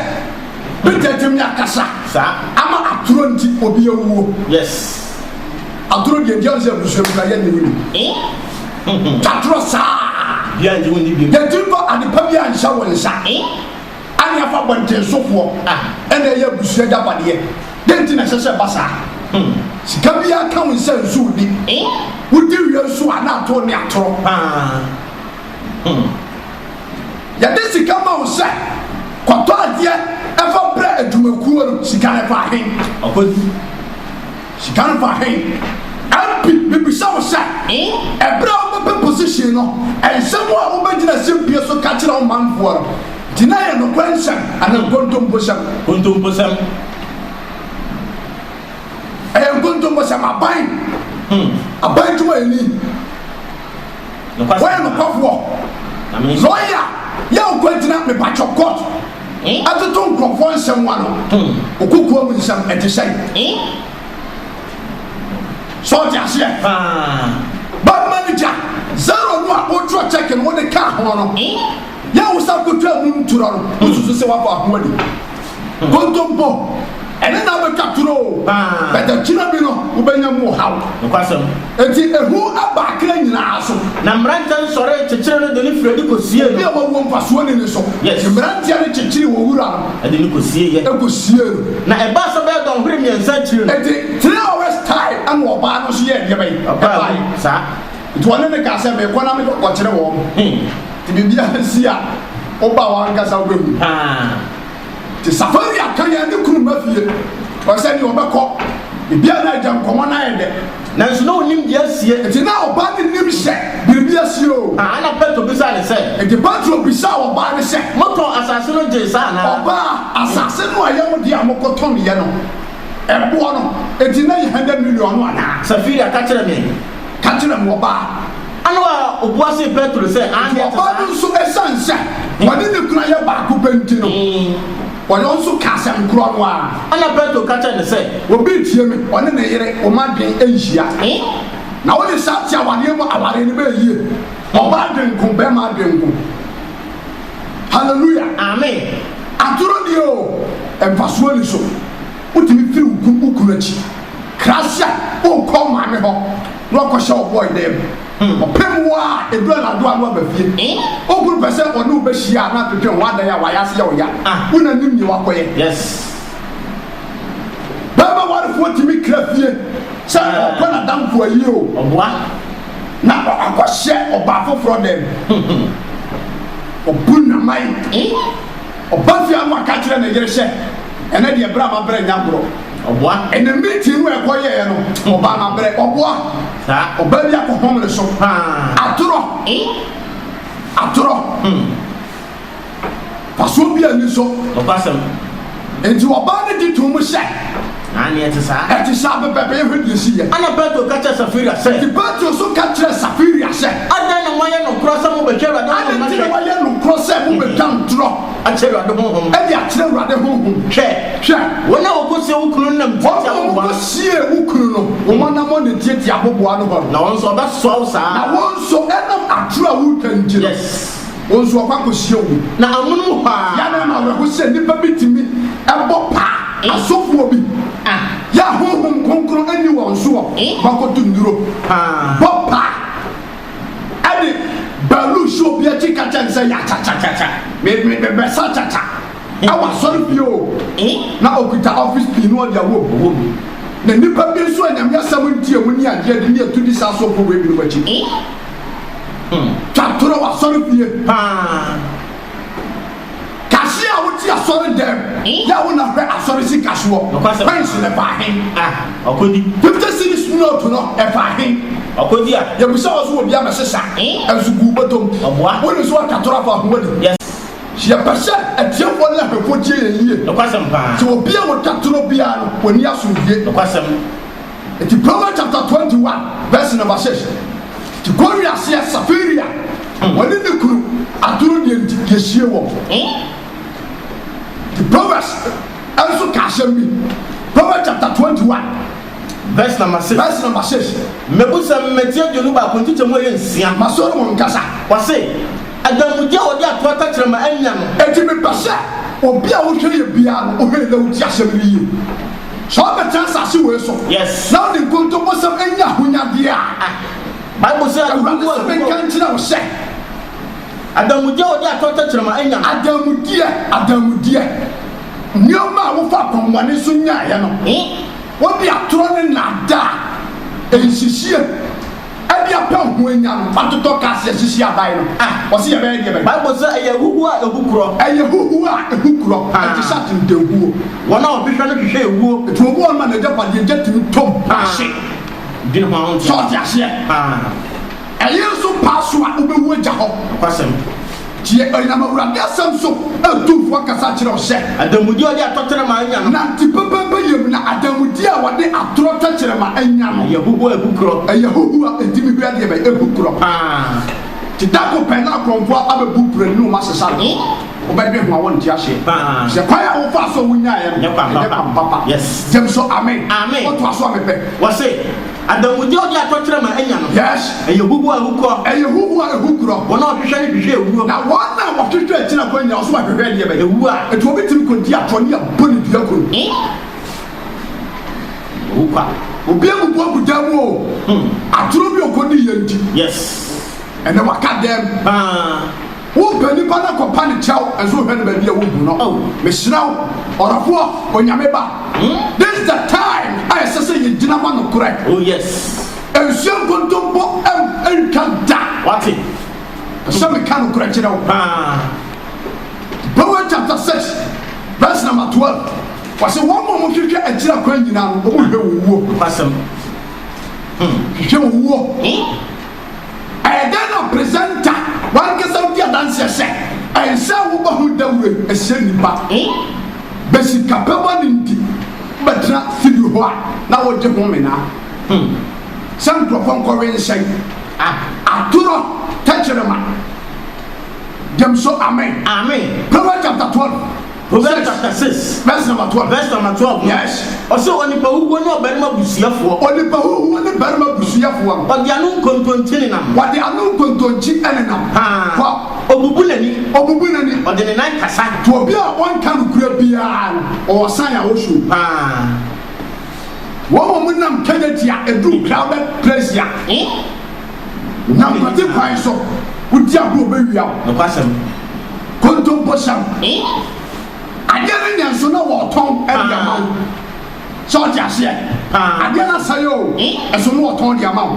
Peter atumi akasa. Saa. Ama atoro nti, obi awuo. Yes. Atoro deɛ, deɛ ɔnsɛ abusua mu koraa, yɛnnye wo nni. Eh? Twa atorɔ saa. Obiara nnye wo nni bio. Yɛn ti mfa adepa biara nhyɛ wo nsa. Eh? Ane afa abɔntensofoɔ a ɛna ɛyɛ abusua agyapadeɛ. Dɛn nti na ɛsɛ sɛ ɛba saa? Hmm. Sika biara ka wo nsa nsu wo ni. Eh? Wodi wia nsu a na atoo ne atorɔ paa. Hmm. Yɛde sika ma wo sɛ kɔtɔ adeɛ ɛfa brɛ adwumakuo no, sika no ɛfa ahen? Ɔkɔdi. Sika no ba he? MP, Mebisa wo sɛ, eberɛ a wobɛpɛ position no, nsɛm a wobɛgyina asɛmpie so ka kyerɛ wo manfoɔ no, gyina yɛ nokorɛ nsɛm anaa nkontomposɛm? Nkontomposɛm. Ɛyɛ nkontomposɛm. Aban, aban dwumayɛni. Woyɛ nokwafo ɔ. Lɔya yɛ wo kɔ gyina mepatwɔ court ɛtoto nkurɔfoɔ nsɛm ano wo kokoa mu nsɛm ɛte sɛn sɛ wote aseɛ bad manager zero no a wotwerɛ check no wode kaa ho no. Yɛ wo sa kotwa mu ntorɔ no, wosusu sɛ woabɔ ahoa ni. Kontompo, ɛne na wobɛtwa toro o, but akyire bi no wobɛnya mu ɔhaw. Nokwasɛm. Enti ehu aba akra nyinaa so. Na mmeranteɛ no sɔree kyekyeree no de no firii adi kɔsiee no. Obi a wawuo mfasoɔ nni ne so. Yes. Enti mmeranteɛ no kyekyeree wɔn wura no. Ɛde no kɔsieeɛ. Ɛkɔsiee no. Na ɛbaa sɛ bɛyɛ dɔnhwere mmiɛnsa akyire no. Enti three hours time ɛna ɔbaa no nso yɛɛ deɛ bɛn? Ɛbaae. Ɛbaae, saa. Nti ɔne me kaa sɛ, Mekɔ na mekɔkyere wɔn. Nti biribiara nsi a, woba a w'ankasa wobɛhu. Nti Safari aka yɛn ne kunu mma fie. Ɔyɛ sɛ deɛ ɔbɛkɔ. Biribiara na agya nkɔmmɔ no ayɛ dɛ. Nanso na ɔnnim deɛ asie. Nti na ɔbaa no nnim sɛ biribi asie o. Ɛnna Petro bisaa no sɛ. Nti Petro bisaa ɔbaa no sɛ. Motɔn asase no gyee saa anaa? Ɔbaa, asase no a ɛyɛ mo dea a mokɔtɔneeɛ no, ɛboɔ no, enti na ɛyɛ hundred million no anaa? Safira ka kyerɛɛ me. Ka kyerɛ me, ɔbaa. Ɛnna ɔbaa a ɔbua see Petro sɛ, Aane, ɛte saa. Nti ɔbaa no nso, esiane sɛ wɔne ne kunu yɛ baako pɛ nti no, ɔno nso kaa asɛm korɔ no ara. Ɛnna Petro ka kyerɛɛ no sɛ. Obi retie me, ɔne ne yere, wɔn adwene nhyia. Na wode saa te awareɛ mu awareɛ no bɛyɛ yie. Ɔbaa adwene nko, barima adwene nko. Hallelujah! Amen! Atorɔ deɛ o, mfasoɔ nni so. Wotumi firi wo kunu akyi. Krasia onkɔ maame hɔ na wakɔhyɛ wo bɔy dan mu. Ɔpɛ mu a edu anadwo a na waba fie. Ogu no pɛ sɛ ɔne wo bɛhyia a na atwetwe ho adan a wayɛ ase yɛ wo ya. Wo na nim nea wakɔyɛ. Bɛɛma warefoɔ tumi kra fie sɛ ɔɔkɔ n'adamfo ayie o, na wakɔhyɛ ɔbaa foforɔ dan mu. Ɔbu nnaman. Ɔbafia no aka akyerɛ ne yere sɛ, Ɛnnɛ deɛ bere a mabrɛ nyɛ agorɔ. Ɔboa. Ɛnna meeting no a ɛkɔ yɛeɛ no, ɔbaa no abrɛ. Ɔboa. Saa. Ɔbaa bi akɔhomene so. Paa. Atorɔ. E? Atorɔ. Hmm. Fasoɔ bi a ani sɔ. Nokwasɛm. Enti ɔbaa no gye too mu sɛ. Aane, ɛte saa. Ɛte saa pɛpɛɛpɛ, yɛnhwɛ deɛ ɛsiiɛ. Ɛnna Petro ka kyerɛɛ Safiria sɛ. Enti Petro nso ka kyerɛɛ Safiria sɛ. Adɛn na moayɛ nokorɛ sɛ mobɛtwa Awurade honhom no ahwɛ? Adɛn nti na moayɛ nokorɛ sɛ mobɛtwa ntorɔ. Akyerɛ Awurade honhom no? De akyerɛ Awurade honhom. Hwɛ! Hwɛ! Wɔn a wɔkɔsie wo kunu no nam tiatia aboboano. Wɔn a wɔkɔsie wo kunu no, wɔn anammɔn na ɛtiatia aboboano hɔ no. Na wɔn nso, wɔbɛsoa wo saa ara. Na wɔn nso, ɛnam atorɔ a woretwa nti no. Yes. Wɔn nso wɔkɔ akɔhyia wɔn. Na amonom hɔ ara. Yɛn anaa no awerɛho sɛ nnipa bi tumi bɔ paa asɔfoɔ bi a Honhom Kronkron nni wɔn so wɔ hɔ kɔto nnuro, bɔ paa de baaluu hyɛ obi akyi ka kyerɛ no sɛ yakyakyakya, mebɛsa kyakya wɔ asɔrefie o, na ɔkuta ɔfese pii na ɔde awɔ mu. Na nnipa bi nso a Nyame asɛm ntie wɔn ni agye adi ne atudi saa asɔfoɔ wei binom akyi. Twa toro asɔre fie paa. Cashier a wote asɔre dɛm yɛ a wo na hwɛ asɔre sika soɔ. Coins no ɛfaa hen? Ah, ɔkɔdi. Fifty cedis note no ɛfaa hen? Ɔkɔdi a. Yɛbisa wɔ so wɔ bia mɛhye sa. Ɛnso gu wo bɔtɔm. Ɔboa. Wonim sɛ watwa toro afa ho adi. Yes. Yɛpɛ sɛ atiefoɔ ne ahwɛfoɔ tie yɛn yie. Nokwasɛm paa. Sɛ obi a ɔtwa toro biara no, wɔnni asomdwie. Nokwasɛm. Enti Proverbs chapter twenty one verse number six ti kɔ wi aseɛ safiri a wɔne ne kunu atoro deɛ nti yɛsie wɔn nti Proverbs nso ka asɛm bi Proverbs chapter twenty one verse number six verse number six mɛbu sɛ mmɛti aduonu baako nkyekyɛ mu ɛyɛ nsia ma Solomon nkasa wɔse adanmudeɛ a wɔde ato atakyerɛ ma anya no enti mepɛ sɛ obi a wohwɛ yɛ biara no wohwɛ yɛ na woti asɛm no yie Sɛ ɔbɛtena asase wei so na ɔde nkontoposɛm anya ahonyadeɛ a, Bible sɛ Awurade sɛ menka nkyerɛ wo sɛ. Adanmudeɛ a wɔde atɔ tɛkyerɛma anya no. Adanmudeɛ, adanmudeɛ, nneɛma a wofa akwammɔne so nyaeɛ no, wode atorɔ ne nnaadaa, nhyehyeɛ, Ɛde apɛ ho anya no. Atotɔ kars asisi adan no a wɔse yɛbɛyɛ deɛ bɛn. Bible se ɛyɛ huhuo a ehu korɔ. Ɛyɛ huhuo a ehu korɔ. Ɛte sɛ atentanhuo. Wɔn a wɔhwehwɛ no hwehwɛ ewuo. Enti obu wɔn ma n'agyapadeɛ gya tumi tɔ mu na ahye. Dwene ho a wonte. Sɛ ɔte aseɛ? Ɛyere nso paa so a wobɛwu agya hɔ. Nokwasɛm. Gye ɔyɛnam Awurade asɛm so atumfo akasa akyerɛ wo hyɛ. Adanmudi a wɔde atɔ tɛrɛma anya no. Nante pɛpɛɛpɛ yam na adanmudi a wɔde atorɔ tɛkyerɛma anya no. Ɛyɛ huhuo a ɛbu korɔ. Ɛyɛ huhuo a enti me hwɛ deɛ bɛn ɛbu korɔ paa. Te da ko pɛ na akorɔmfoɔ abɛbu prɛn ne wɔn asesa no ho. Wobɛdwe ho a wɔnte aseɛ. Sɛ kwan a wofaa so a wonyaeɛ no ɛnyɛ kwan papa. Gyem so amen. Amen. Wotoa so a mepɛ. Wɔse. Adanmudeɛ a ɔde atɔ kyerɛ ma anya no. Yes. Ɛyɛ huhuo a ɛhu korɔ. Ɛyɛ huhuo a ɛhu korɔ. Wɔn a wɔhwehwɛ no hwehwɛ awuo. Na wɔn a wɔhwehwɛ akyiri akwan nyinaa nso hwehwɛ ɛdeɛ bɛn? Awuo a. Enti obi tumi kɔdi atorɔ ne abɔ no dua kuro. Ee. Ɛyɛ hu kwa. Obi abubu agu dan mu oo. Hmm. Atorɔ bi a ɔkɔdiiɛ nti. Yes. Ɛnɛ waka dɛm. Paa. Wo pɛ nipa na kɔ pa ne kyɛw ɛso hwɛ no baabi a wo gu no oh mehyira wo ɔrɔfoɔ onyame ba mm. this the time a ɛsɛ sɛ yɛ gyina ma no korɛ oh yes ɛnsuo nkontompo ɛm ɛntwa da wate ɛsɛ me ka no korɛ kyerɛ wo paa Proverbs chapter 6 verse number 12 wɔsɛ wɔn mu ɔmo hwehwɛ akyiri akwan nyinaa no ɔmo hwɛ wɔn wuo hwehwɛ wɔn wuo Ɛyɛ dɛn na presenter w'ankasa wudi adanseɛ sɛ ɛnsɛ a wobɔ ho dawuro yi ɛsɛ nnipa he bɛ sikapɛ bɔ ne nti wobɛtena studio hɔ a na wogye ho mena sɛ nkurɔfoɔ nkɔwe nsɛn atorɔ tɛkyerema gyem so amen Proverbs chapter twelve. Hosea chapter six verse number twelve. Verse number twelve. Yes. Ɔsɛ onipa huhuo ne ɔbarima busuafoɔ. Onipa huhuo ne barima busuafoɔ no. Ɔde ano nkontonkyi nenam. Ɔde ano nkontonkyi nenam. Haa. Kɔ. Ɔbubu n'ani. Ɔbubu n'ani. Ɔde ne nan kasa. To obi a ɔnka nokorɛ biara no ɔwɔ san a ɔhwɛ o. Haa. Wɔn a wɔnam kɛnyɛ tia ɛduru crowded place a. Eh? Na nkwagye kwan so wodi agorɔ bɛwia wo. Nokwasɛm. Kontompo hyɛ wo. Adeɛ no nyɛ nso na wɔretɔn de ama wo. Sɛ wote aseɛ? Adeɛ no asɛe o, nso na wɔtɔn de ama wo.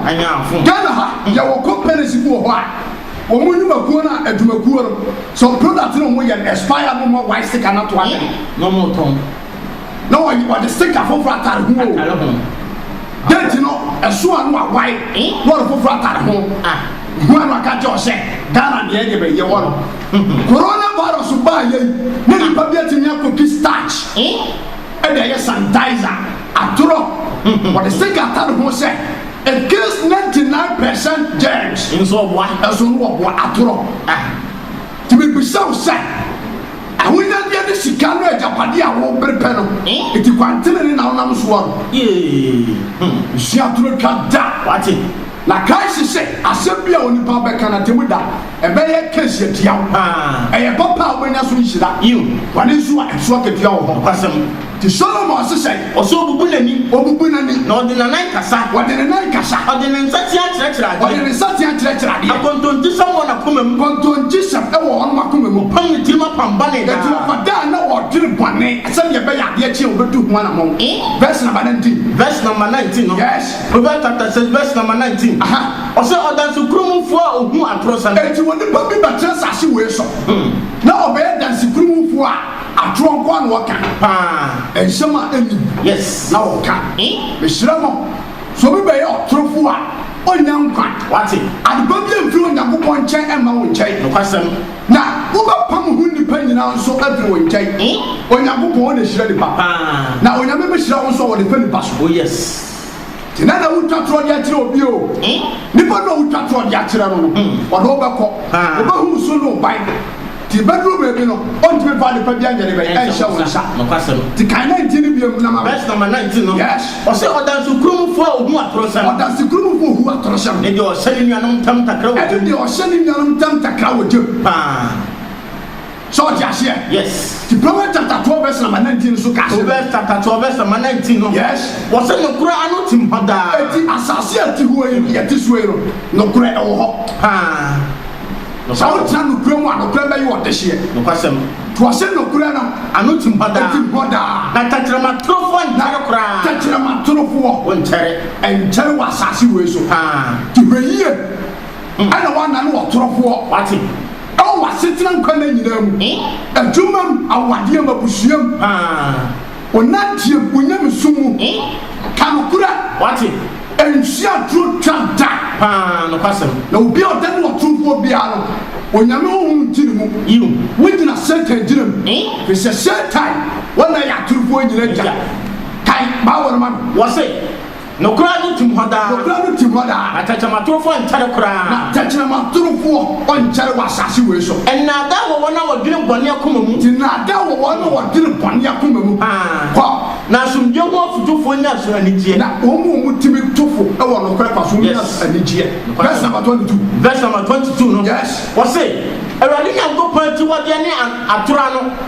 Ghana ha, yɛwɔ companies bi wɔ hɔ a, wɔn nnwumakuo no a adwumakuo no, some products no a wɔyɛ no expire na wɔn a wɔae sika no ato akyɛ. Na wɔretɔn. na wɔyɛ wɔde sika foforɔ atare ho o atare ho date no ɛso a no wawae eh? na wɔde foforɔ atare ho ah. ho a no aka kyɛ ɔhyɛ ghana deɛ deɛ bɛyɛ wɔ no hmm. coronavirus baa yɛ yi ne nipa bi atumi akɔki starch eh? ɛde ɛyɛ sanitizer atorɔ hmm. wɔde sika atare ho sɛ it kills 99 percent germs nso ɔboa ɛso no wɔboa atorɔ ah. tìmí bisɛw sɛ Ahonyadeɛ ne sika no agyapadeɛ a wobere pɛ no nti kwan tenenee na wonam so a ɛsi atoro twa da. Na kae se sɛ asɛm bi a onipa bɛka no atemmu da ɛbɛyɛ case atia wo. Ɛyɛ papa a wobɛnya so nhyira, bɔne nso a ɛso akatua wɔ hɔ. Nti Solomon hyehyɛ yi. Ɔsɛ ɔbubu n'ani. Ɔbubu n'ani. Na ɔde n'anan kasa. Ɔde ne nan kasa. Ɔde ne nsateaa kyerɛkyerɛ adeɛ. Ɔde ne nsateaa kyerɛkyerɛ adeɛ. Akontonkyesɛm wɔ n'akoma mu. Kontonkyesɛm wɔ wɔnom akoma mu. Ɔpam ne tirim apam bɔne daa. Enti ɔfa daa na ɔdwene bɔne. Sɛdeɛ ɛbɛyɛ a adeɛ kye a ɔbɛtu ho anammɔn. Verse number nineteen. Verse number nineteen no. Yes. Proverbs chapter six verse number nineteen. Aha. Ɔsɛ ɔdansekurumofoɔ a ɔhu atorosɛm. Enti onipa bi bɛtena asase wei so. Na ɔbɛyɛ dansekurumofoɔ a. Atorɔ nko ara na wɔka. Paa. Nsɛm a enni mu. Yes. Na wɔka. He? Mesrɛ mo, sɛ obi bɛyɛ ɔtorofo a, ɔrennya nkwa. Wate. Ade pa biara mfi Onyankopɔn nkyɛn mma wo nkyɛn. Nokwasɛm. Na wobɛpam ho nnipa nyinaa nso afi wo nkyɛn. He? Onyankopɔn, ɔna hyira nnipa. Paa. Na Onyame bɛhyira wo nso a ɔde pɛ nnipa so. Oh, yes. Nti na na wotwa torɔ de akyerɛ obi o, nipa no a wotwa torɔ de akyerɛ no no, ɔno wobɛkɔ, wobɛhu so no ban. Nti bɛduru baabi no, ɔntumi mfa adepa bi anyɛ de bɛn, ɛnhyɛ wo nsa. Nti kan 19 no biom na ma me. Verse number 19 no, Yes. ɔse ɔdansekurumfoɔ a ohu atorosɛm. Ɔdansekurumfoɔ a ohu atorosɛm. Ne deɛ ɔhyɛ ne nuanom ntam ntakra wɔ gya mu. Ɛne deɛ ɔhyɛ ne nuanom ntam ntakra wɔ gya mu. Paa. Sɛ ɔte aseɛ? Yes. Ti Proverbs chapter twelve verse number nineteen nso ka asɛm. Proverbs chapter twelve verse number nineteen no. Yes. Wɔsɛ nokorɛ ano tim hɔ daa. Eti asase a ɛte hɔ yi no yɛte so yi no nokorɛ ɛwɔ hɔ. Paa. Sɛ wotena nokorɛ mu a nokorɛ bɛyɛ wo ɔdehyeɛ. Nokwasɛm. To ɔsɛ nokorɛ no. Ano tim hɔ daa. Ɛtim hɔ daa. Na tɛkyerɛma torofoɔ nkyɛre koraa. Tɛkyerɛma torofoɔ. Wɔnkyɛre. Ɛnkyɛre wɔ asase wei so. Paa. Ti hwɛ yie. Mma na wɔanna no ɔtorofoɔ. Wate. Ɛwɔ w'asetena nkwa nna nyinaa mu, adwuma mu, awadeɛ mu, abusua mu, wo nanteɛ mu, wo nyamesom mu. Ka nokorɛ. Wate. Ɛnhyia aduro twa da. Paa, nokwasɛm. Na obi a ɔda ne ɔtorofoɔ biara no, Onyame honhom nti ne mu. Yiw. Wogyina Satan gyina mu, ɛfiri sɛ Satan, wɔn na ɛyɛ atorofoɔ nyinaa agya. Kae Bible no ma me. Wɔse. Nokora no tim hɔ daa. Nokora no tim hɔ daa. Na tɛkyerɛmatorofoɔ nkyɛre koraa. Na tɛkyerɛmatorofoɔ ɔnkyɛre wɔ asaase wei so. Nnaadaa wɔ wɔn a wɔdwene bɔne akoma mu. Te nnaadaa wɔ wɔn a wɔdwene bɔne akoma mu. Kɔ. Na asomdwoeɛ ho afotufoɔ nya so anigyeɛ. Na wɔn a wɔtumi to fo wɔ nokorɛ kwa so no nya so anigyeɛ. Verse number twenty two. Verse number twenty two no. Yes. Wɔse, Awurade Nyankopɔn akyiwadeɛ ne atorɔ ano.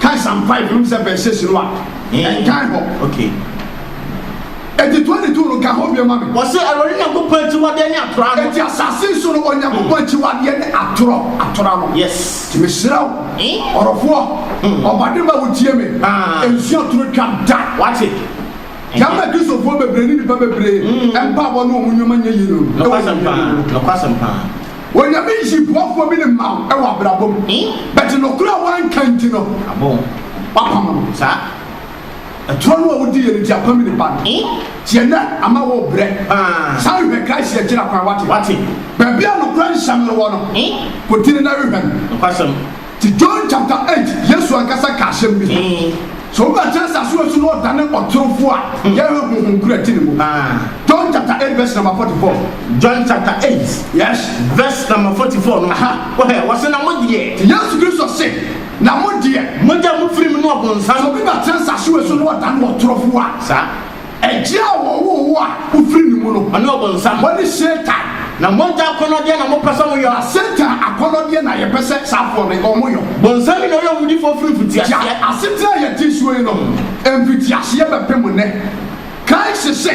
Kan Psalm five no sɛ verse six no a, ɛnkan hɔ. Okay. Eti twenty two no ka hɔ bio ma me. Wɔsi Awurade Nyankopɔn akyiwadeɛ ne atorɔ ano. Eti asase so no Onyankopɔn akyiwadeɛ ne atorɔ, atorɔ ano. Yes. Ti me srɛ wo, Eh? ɔrɔfoɔ, Hmm. ɔbadema wo tie me, Ah. nsu atoro twa da. Wate. Yɛn mɛ Kristofoɔ bebree ne nipa bebree mpaabɔ ne wɔn nneɛma nyɛ yie no. Nɔkwasɛm paa, nɔkwasɛm paa. Onyame nyi boafoɔ bi ne ma wo wɔ abrabɔ mu but nokorɛ a woanka nti no wapam no saa ɛtorɔ no a wodiiɛ no nti apam ne ba no nti ɛnɛ ama wo brɛ san hwɛ Christ akyira kwan wate baabi a nokorɛ nsɛm no wɔ no kɔdi no na hwehwɛ no Ti John chapter eight Yesu ankasa ka asɛm bi ho sɛ obi a ɔte asase wɔ so na ɔdane ɔtorofo a yɛhwɛ honhom koro a ɛte ne mu. John chapter eight verse number forty four. John chapter eight Yes. verse number forty four no Aha. wɔhɛ wɔse na mo deɛ. Ti Yesu Kristo se na mo deɛ. Mogya mo firi me ne ɔbonsam. Sɛ obi ba tena asase wɔ so na ɔdane ɔtorofo a. Saa. Agya a wɔwoo wo a wofiri ne mu no. Ɔne ɔbonsam. Ɔne Satan. Na mogya akɔnnɔdeɛ na mopɛ sɛ moyɔ. Na Satan akɔnnɔdeɛ na yɛpɛ sɛ saafoɔ no wɔyɔ. Bonsam yi na ɔyɛ owudifoɔ firi mfitiaseɛ. Gya asetena a yɛte soɔ yi nom mfitiaseɛ bɛpem nnɛ. Kae se sɛ,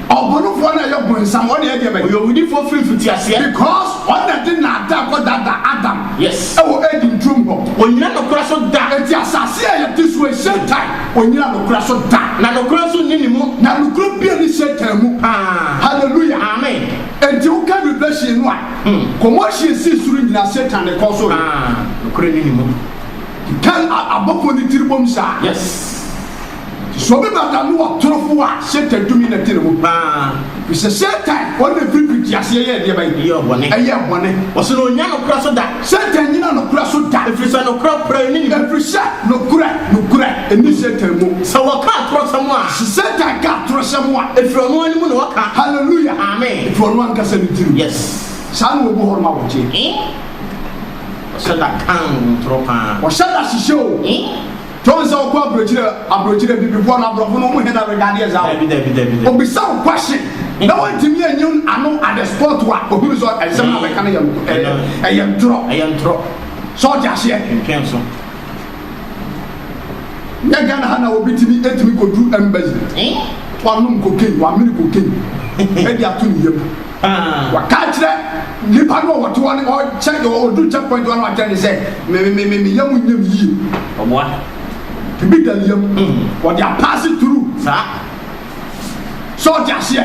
ɔbonofoɔ no a ɛyɛ bonsam, ɔne ɛdeɛ bɛn? Ɔyɛ owudifoɔ firi mfitiaseɛ. Because ɔno na ɛde naadaa kɔdaadaa Adam Yes. ɛwɔ Eden turom hɔ. Ɔnnyina nokora so da. Enti asase a yɛte soɔ yi, Satan. Ɔnnyina nokorɛ so da. Na nokorɛ nso nni ne mu. Na nokorɛ biara nni Satan mu paa. Hallelujah! Amen! Enti woka Revelation no a, commotion sii soro nyinaa, Satan ne kɔɔ so yɛ. Ah, nokorɛ nni ne mu. Ka abɔfoɔ no tiri bom saa. Yes. Nti sɛ obi bata no wɔ torofoɔ a, Satan tumi na ɛte ne mu. Ah. Ɛfiri sɛ Satan, ɔno na ɛfiri mfitiaseɛ yɛɛ deɛbɛn? Ɛyɛɛ bɔne. Ɛyɛɛ bɔne. Wɔse no ɔnnya nokorɛ so da. Satan nnyina nokorɛ so da. Ɛfiri sɛ nokorɛ kura ne mu. Ɛfiri sɛ nokorɛ, nokorɛ nni Satan mu. Sɛ wɔka atorɔsɛm a. Sɛ Satan ka atorɔsɛm a. Ɛfiri ɔno ara ne mu na ɔka. Hallelujah! Amen! Ɛfiri ɔno ankasa ne tirim. Yes! Saa na wɔbu hɔnom a wɔgye. Ee! Wɔhyɛ da ka ntorɔ paa. Wɔhyɛ da hyehyɛ o. Ee! John sɛ ɔkɔ abrokyire abrokyire bibifɔ no abrɔfo no ɔmu hɛn na regade yɛ dza Dabi dabi dabi dabi. obisa wo question na wantumi anyi ano at the spot a ohunu sɛ nsɛm no a bɛka no yɛ nokɔ ɛyɛ ɛyɛ ntorɔ Ɛyɛ ntorɔ. sɛ ɔte aseɛ. Ntwenso. Nyɛ Ghana ha na obi tumi etumi kɔduru embassy Eeh. wanom cocaine wamene cocaine de ato ne yam. Waka akyerɛ nnipa no a wɔte hɔ no, ɔkyɛ ɔduru check point hɔ no wakyerɛ no sɛ me me me me yam nyɛ me yie. Ɔboa. Ebi da ne yam. Ɔde apaase turu. Saa. Sɛ ɔte aseɛ.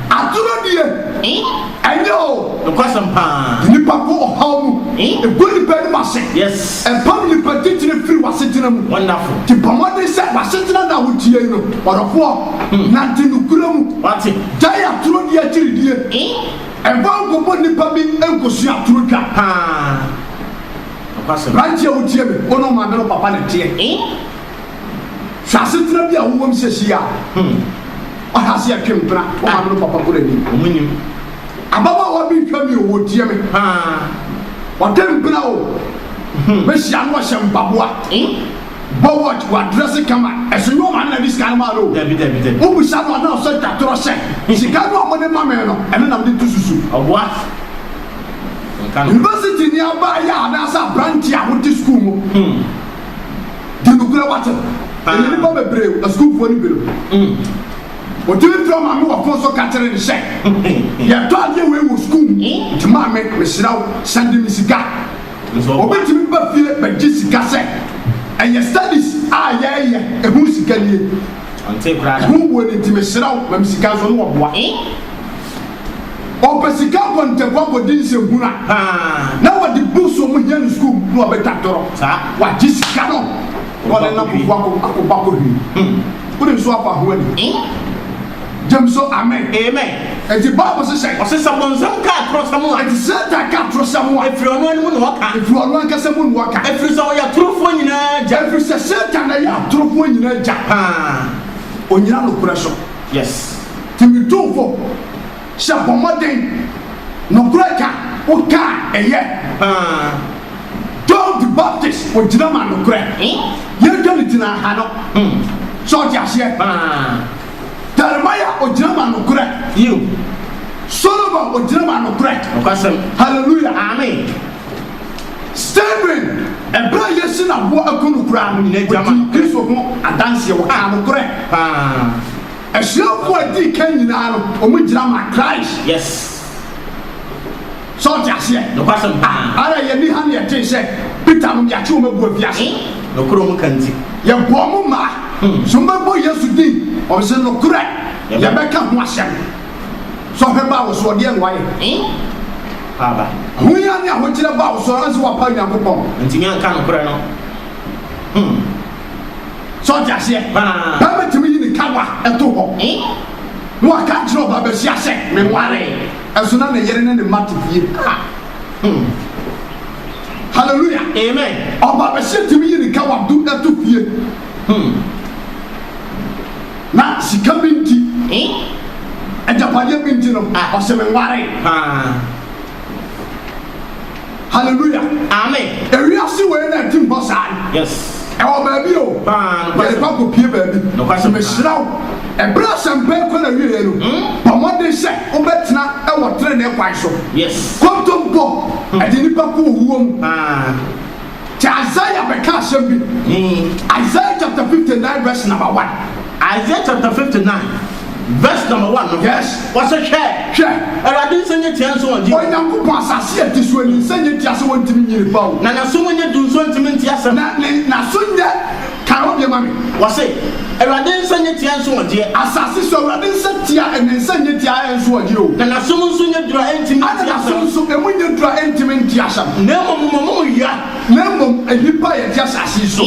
Atoro deɛ. Ɛnyɛ o. Nokwasɛm paa. Nnipa kɔ ɔhaw mu. Egu nnipa anim ase. Yes. Ɛpam nnipa titire firi w'asetena mu. Wonderful. Ti bɔ mmɔden sɛ w'asetena na wotie yi no, ɔdɔfoɔ, nante nokorɛ mu. Wate. Gyae atoro di agyiridie. Mma nkɔbɔ nnipa bi nkɔsua atoro dwa. Aberanteɛ a wotie me, wo ne wo maame no papa na ɛteɛ. Hwɛ asetena bi a wowɔ mu seesei a woahyɛ ase ɛtwe mpena, wo maame no papa koraa nnim. Ababaawa bi rehwɛ me o, ɔretie me. Ɔtwe mpena o, mɛhyia no ɔhyɛ mpaboa. Bɔ watch wa dress kama ɛso nyɛ ɔma na de sika no maa no o dabi dabi dabi wo bisa no ana ɔsɛ twa torɔ hyɛ sika no a ɔmo de ma me no ɛno na mede tu susu ɔboa university ni abaa yɛ anaasɛ aberante a wote school mu hmm. di nokorɛ wate ah. ɛyɛ nipa bebree asukuufoɔ no bi no ɔtumi fira maame wɔ fon so ka kyerɛ ne sɛ yɛtɔ adeɛ wei wɔ sukuu nti maame mesrɛ wo sɛde me sika Wɔbɛtumi ba fie bɛgye sika sɛ ɛyɛ studies a yɛreyɛ ɛho sika nie. Ɛho wuo no nti mesrɛ wo ma me sika nso na wɔboa. Ɔpɛ sika kɔ ntɛkɔ akɔdi nsɛmhunu a na wɔde books a wɔhia no sukuu mu na wɔbɛtwa torɔ. Wagye sika no na ɔde no akɔbɔ akɔhwie. Wode nso afa ho ani. Gyem so amen. Amen. Enti Bible se sɛn? Ɔse sɛ bonsam ka atorosɛm a. Enti Satan ka atorosɛm a. Efiri ɔno ara mu na ɔka. Efiri ɔno ankasa mu na ɔka. Efiri sɛ ɔyɛ atorofoɔ nyinaa agya. Efiri sɛ Satan na ɛyɛ atorofoɔ nyinaa agya. Paa. Onyina nokorɛ so. Yes. Timitumfo. Hyɛ bɔ mmɔden. Nokorɛ ka wo ka a ɛyɛ paa. John the Baptist ɔgyina ma nokorɛ. Yɛn ka no gyina ha no. Sɛ ɔte aseɛ paa. Jeremiah ɔgyina ma nokorɛ. Solomon ɔgyina ma nokorɛ. Hallelujah. Amen. Stephen ɛberɛ a yɛsi no aboɔ aku no koraa no ɔdii Kristo ho adanseɛ ɔkaa nokorɛ paa. Asuafo a edii kan nyinaa no, wɔgyina maa Christ. Yes. So ɔte aseɛ? Nokwasɛm paa. Ah, ara yɛn ni ha na yɛtee sɛ Peter nom yɛakye wɔn agu afiase. Eh? Nokorɛ wɔn ka nti. Yɛbɔ wɔn mmaa. Hmm. So wɔn bɛbɔ Yesu din? Wɔn se nokorɛ. Yɛbɛka ho asɛm. So ɔhwɛ baa wo so, ɔdeɛ na wayɛ. Eh? Paaba. Ahoyia ne ahokyerɛ baa wo so, anse wapa Nyankopɔn. Ntumi anka nokorɛ no. Hmm. So ɔte aseɛ? Bɛrima tumi yi ne kawa to hɔ na waka nkyerɛ ɔbaa basia sɛ me ware ɛso na ne yere ne ne mma te fie. Hallelujah. Amen. Ɔbaa basia tumi yi ne kawa do to fie. Na sika bi nti, agyapadeɛ bi nti no, ɔsɛ me ware. Hallelujah. Amen. Ewiase wei na ɛtim hɔ saa no. Yes. Ɛwɔ baabi o. Paa. Yɛde kɔ akɔpie baabi. Nokwasɛm. Mehyira wo. Ɛberɛ a asɛmpa yi kɔ n'awieeɛ no, hmm? bɔ mmɔden sɛ wobɛtena wɔ trenee kwan so. Yes. Kɔntɔmpɔ, ɛde nnipa kɔ owuo mu. Paa. Kyɛ Isaiah bɛka asɛm bi. Isaiah chapter 59 verse number one. Isaiah chapter 59 verse number one no. Yes. Ɔse hwɛ. Hwɛ. Awurade nsa nyɛ tia nso ɔngye. Onyankopɔn asase a ɛte soɔ ni nsa nyɛ tia sɛ ɔntumi nyini ba o. Na n'aso mu nyɛ duru nso ɔntumi nte asɛm. Na ne n'aso nyɛ. Kan wo deɛ ma me. Wɔse, Awurade nsa nyɛ tia nso ɔgyeɛ. Asase so, Awurade nsa tia, ɛna ne nsa nyɛ tia a ɛnso ɔgyeɛ o. Na n'asom nso nyɛ duru a ɛntimi nte asɛm. Ɛna n'asom nso, emu nyɛ duru a ɛntimi nte asɛm. Na mmom mo mo mo yɔ. Na mmom nnipa a yɛte asase yi so.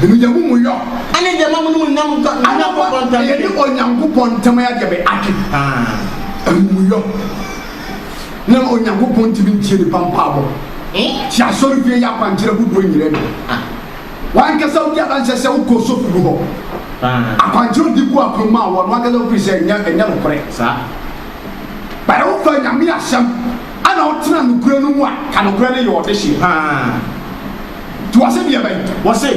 Ɛno deɛ mo mo yɔ. Ɛne deɛ ma mo ne Onyankopɔn ntam dwe. Ɛna wɔn na yɛne Onyankopɔn ntam ayɛ deɛ bɛ adwe. Ɛho mo yɔ. na Onyankopɔn ntumi ntie nnipa mpaabɔ. Ti asɔrefie yɛ akwankyerɛ hodoɔ nyinaa bi. Wankasa wodi adanseɛ sɛ wokɔ sɔfogu hɔ. Akwankyerɛ odi gu apono mu a wɔn ankasa wofiri sɛ ɛnyɛ ɛnyɛ nokorɛ. Bɛyɛ wofa Nyame asɛm ɛna wotena nokorɛ no mu a ka nokorɛ no yɛ ɔdehyeɛ paa. Toa sɛ deɛ bɛn? Wɔse,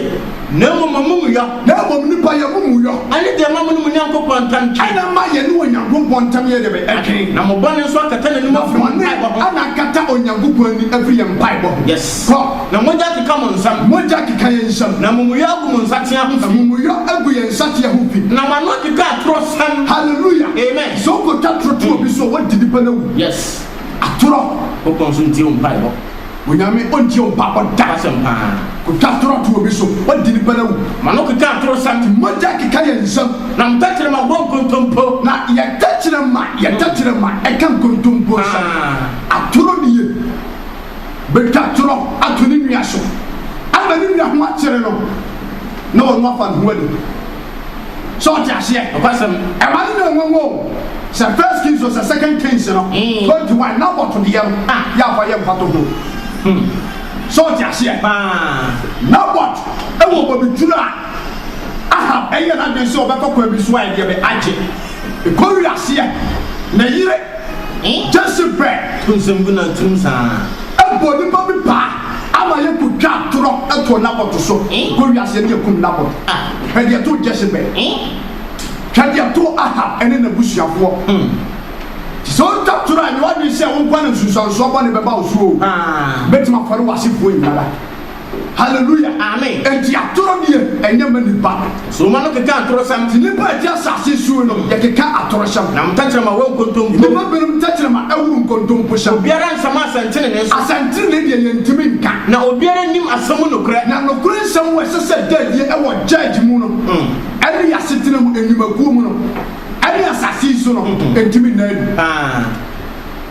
Na mmom m'amumuyɔ. Na mmom nnipa yɛ amumuyɔ. Ɛne deɛ ɛma mo ne mo Nyankopɔn ntam twe. Ɛna ɛma yɛne Onyankopɔn ntam yɛ deɛ bɛn? Ɛtwe. Na mo bɔne nso akata n'anim afiri mo mpaebɔ ho. Na bɔne na akata Onyankopɔn ani afiri yɛn mpaebɔ ho. Yes. Kɔ. Na mogya akeka mo nsam. Mogya akeka yɛn nsam. Na amumuyɔ agu mo nsateaa ho fi. Amumuyɔ agu yɛn nsateaa ho fi. Na mo ano akeka atorɔsɛm. Hallelujah. Amen. Sɛ wokɔtwa toro to obi so a, woadi nipa no awu. Yes. Atorɔ. Nyankopɔn nso ntie wo mpaebɔ. Onyame ɔntie wo mpaabɔ da. Asɛm paa. Kotwa atoro ato obi so wadi ne pɛn awu. Ma no keka atoro sɛm. Te mogya rekeka yɛn nsam. Na mo tɛkyerɛma bɔ nkontompo. Na yɛ tɛkyerɛma yɛ tɛkyerɛma ɛka nkontompo sɛm. Atoro ne yɛ bɛtwa atorɔ ato ne nua so ama ne nua ho akyere no na ɔno afa ne ho adi. So ɔte aseɛ? Nokwasɛm. Ɛma no nyɛ nwanwa o. Sɛ First Kings o, sɛ Second Kings no, twenty one, Naboth deɛ no, ah, yɛ afa yɛ mfatoho. Hmm. So ɔte aseɛ? Paa. Naboth wɔ bobeturo a Ahab ɛyɛɛ n'adwene sɛ ɔbɛkɔ kwan bi so a ɛdeɛ bɛ agye. Ɛkɔwiri aseɛ, ne yere. Gyesɛ brɛ to nsɛm gu nantenom saa. Mpo nipa bi paa ama yɛ kɔ twa atorɔ too Nabot so kɔ wiase ne akum Nabot a hwɛ deɛ too Gyesebel hwɛ deɛ too Ahab ne nabusuafoɔ nti sɛ wo twa torɔ a nyɛ wadwene sɛ wo nkoa na nsunsuansoɔ bɔne bɛba wo so oo bɛtumi afɔre wasefoɔ nyinara. Hallelujah! Amen! Enti atoro deɛ ɛnyɛ ma nnipa no. So mma no keka atorosɛm. Nti nnipa a ɛte asase suu no yɛkeka atorohyɛm. Na mo tɛkyerɛma wɔ nkontompo. Nnipa binom tɛkyerɛma ɛworo nkontompohyɛm. Obiara nsama asɛntenenee so. Asɛntenenee deɛ yɛntumi nka. Na obiara nnim asɛm mu nokorɛ. Na nokore nsɛm wɔ ɛsɛ sɛ ɛda adie ɛwɔ judge mu no ɛne yɛ asetena mu, nnwumakuo mu no ɛne asase yi so no ɛntumi nna adi.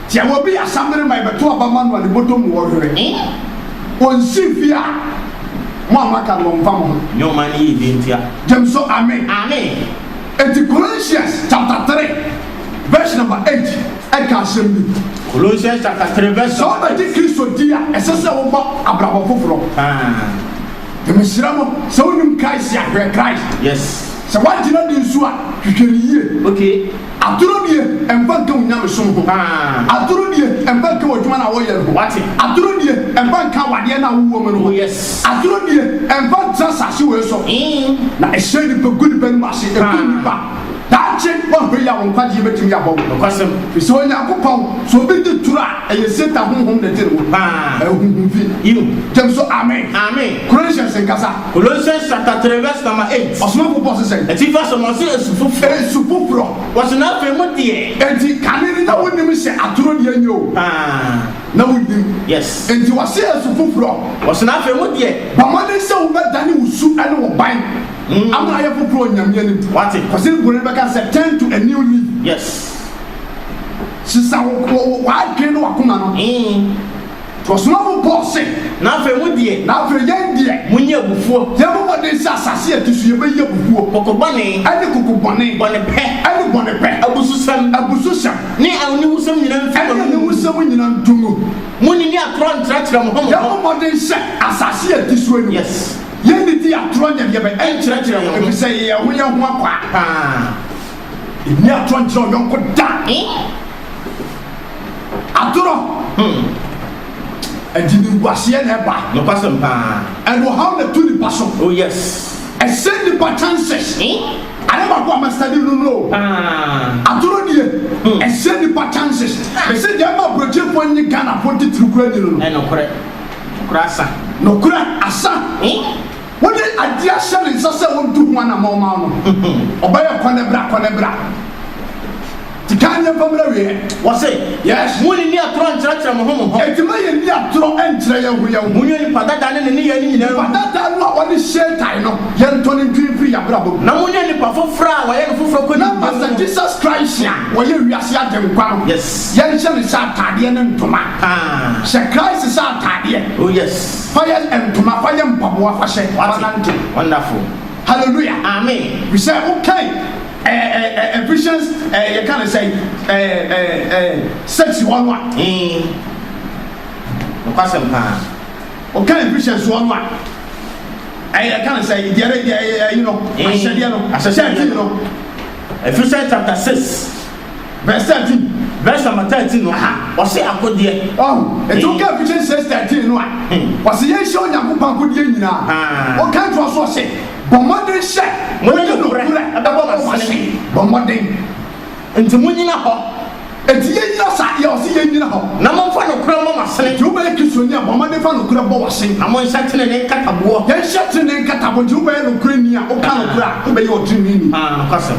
Sɛ obi yɛ asammere ma yɛbɛto aba ma no a, ne bɔtɔ mu ɔhwere he, onsi fie a, mo a moaka no, wɔmfa mo ho. Nyɛ ɔman no yiedie ntia. Gyem so Amen. Amen. Enti Colossians chapter three verse number eight ɛka asɛm bi. Colossians chapter three verse Sɛ number wobɛgye eight. Kristo di a, ɛsɛ sɛ wobɔ abrabɔ foforɔ. Haa. Nti mesrɛ mo, sɛ wonnim Christ a, hwɛ Christ. Yes. Sɛ woagyina di nso a, hwehwɛ no yie. Okay. Atoro deɛ ɛmfa nka wo nyamesom ho. Atoro deɛ ɛmfa nka w'adwuma no a woyɛ no ho. Atoro deɛ ɛmfa nka awadeɛ no a wowɔ mu no ho. Atoro deɛ ɛmfa ntra asase wei so. Na ɛhyɛ nnipa gu nnipa anim ase, ɛku nnipa. Daakye woahwɛ yi a, wo nkwagyeɛ bɛtumi abɔ wo. Ɛfiri sɛ Onyankopɔn, sɛ obi gye turo a, ɛyɛ Satan honhom na ɛgye no. Ɛyɛ honhom fi. Gyem so, Amen. Corinthians nkasa. Colossians chapter three verse number eight. Ɔsomafo Paul se sɛn? Atifi asɛm no, ɔse asu foforɔ. Asu foforɔ. Ɔse na afei mo deɛ. Enti kane no na wonim sɛ atoro deɛ nyɛ o. Aah. Na wonim. Yes. Enti ɔse asu foforɔ. Ɔse na afei mo deɛ. Bɔ mmɔden sɛ wobɛdane wo su ne wo ban ama ayɛ foforɔ wɔ Nyame anim. Wate. Kɔ sɛdeɛ Buroni no bɛka sɛ turn to a new leaf. Yes. Sesa wo, wo, wo, w'adwene ne w'akoma no. Ee. Ɔsomafo Paul se, Na afei mo deɛ. Na afei yɛn deɛ. Monyɛ abufuo. Yɛbɔ mmɔden sɛ asase a ɛte so yi bɛyi abufuo. Koko bɔne. Ɛne koko bɔne. Bɔne pɛ. Ɛne bɔne pɛ. Abususɛm. Abususɛm. Ne aniwusɛm nyinaa ntu wɔ mo mu. Ɛne aniwusɛm nyinaa ntu mo mu. Monnidi atorɔ nkyerɛkyerɛ mo ho mo ho. Yɛbɔ mmɔden sɛ asase a ɛte so yi. Yes. Yɛnnidi atorɔ nyɛ deɛ bɛn. Ɛnkyerɛkyerɛ yɛn ho. Efisɛ yɛyɛ ho yɛn ho akwaa. Paa. Ɛnni atorɔ nkyerɛ ɔyɔnko da. Atorɔ ɛde nimguaseɛ na ɛba. Nokwasɛm paa. Ɛde ɔhaw na ɛto nipa so. Oh yes. Ɛsɛ nipa chances. Ayɛ baako a ma study no no. Atorɔ die ɛsɛ nipa chances. Ɛsɛ deɛ ɛma aburokyefoɔ nye Ghanafoɔ titiri kura nyi no no. Ɛnokorɛ. Nokorɛ asa. Nokorɛ asa. Wode ade ahyɛ ne nsa sɛ ontu ho anammɔn mma wo no, ɔbɛyɛ kɔnɛbra kɔnɛbra. Di kan nyɛ mfa mmrɛ wieɛ. Wɔse, Yes. Munnni atorɔ nkyerɛkyerɛ mo ho mo ho. Enti ma yɛnni atorɔ nkyerɛ yɛn ho yɛn ho. Monyɛ nipa dada ne ne nneyɛe no nyinaa ngu. Nipa dada no a wɔde Satan no, yɛntɔ no ntwi mfiri yɛn abrabɔ mu. Na monyɛ nipa foforɔ a wɔayɛ no foforɔ kɔ nimdeɛ mu. Na Master Jesus Christ a ɔyɛ wiase Agyenkwa no, Yes. yɛnhyɛ no sɛ ataadeɛ ne ntoma. Ah. Hyɛ Christ sɛ ataadeɛ. Oh yes. Fa yɛ ntoma fa yɛ mpaboa fa hyɛ fa nante. Wonderful. Hallelujah. Amen. Bisɛ wo kan ɛɛ ɛɛ Ephesians ɛɛ yɛ kan sɛ ɛɛ ɛɛ ɛɛ sex hɔ no a. Ee. Nokwasɛm paa. Wo kan Ephesians hɔ no a. Ɛɛ yɛ kan sɛ deɛ ɛɛ ɛyi no ahyɛdeɛ no. Ahyɛdeɛ no. Ephesians chapter six. Verse thirteen, Verse number thirteen no, ɔse akodeɛ. Ɔho, enti woka Ephesians six thirteen no a, ɔse yɛnhyɛ Onyankopɔn akodeɛ nyinaa. Ɔka ntoa so ɔse, Bɔ mmɔden sɛ wode nokorɛ bɛbɔ w'asene. Bɔ mmɔden. Enti monyina hɔ. Enti yɛnyina saa deɛ ɔse yɛnyina hɔ. Na momfa nokorɛ mmɔ mo asene. Enti wobɛyɛ Kristoni a, bɔ mmɔden fa nokorɛ bɔ w'asene. Na monhyɛ tenenee nkataboɔ. Yɛnhyɛ tenenee nkataboɔ. Enti wobɛyɛ nokorɛni a, woka nokorɛ a, wobɛyɛ ɔteneneeni. Aa, nokwasɛm.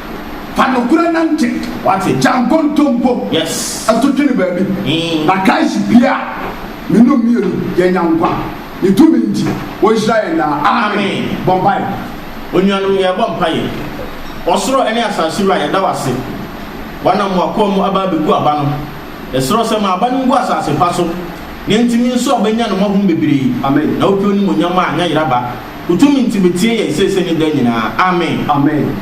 Fa nokorɛ nante. Wate. Gya nkontompo. Yes. Ɛto twene baabi. Ee. Na kae se pie a me nom mmienu yɛnya nkwa. Ne tumi nti ɔnhyira yɛn daa. Amen. Bɔ mpaeɛ. Onuanom yɛrebɔ mpaeɛ. Ɔsoro ne asase Wura yɛda wo ase. W'anam w'akoa mu aba abɛgu aba no. Yɛsrɛ wo sɛ ma aba no ngu asase pa so na ɛntumi nso abɛnya ne mmɔho bebree. Amen. Na wopɛ onimuonyam a anya yera ba. Wo tumi nti betie yɛn seesei ne daa nyinaa. Amen. Amen.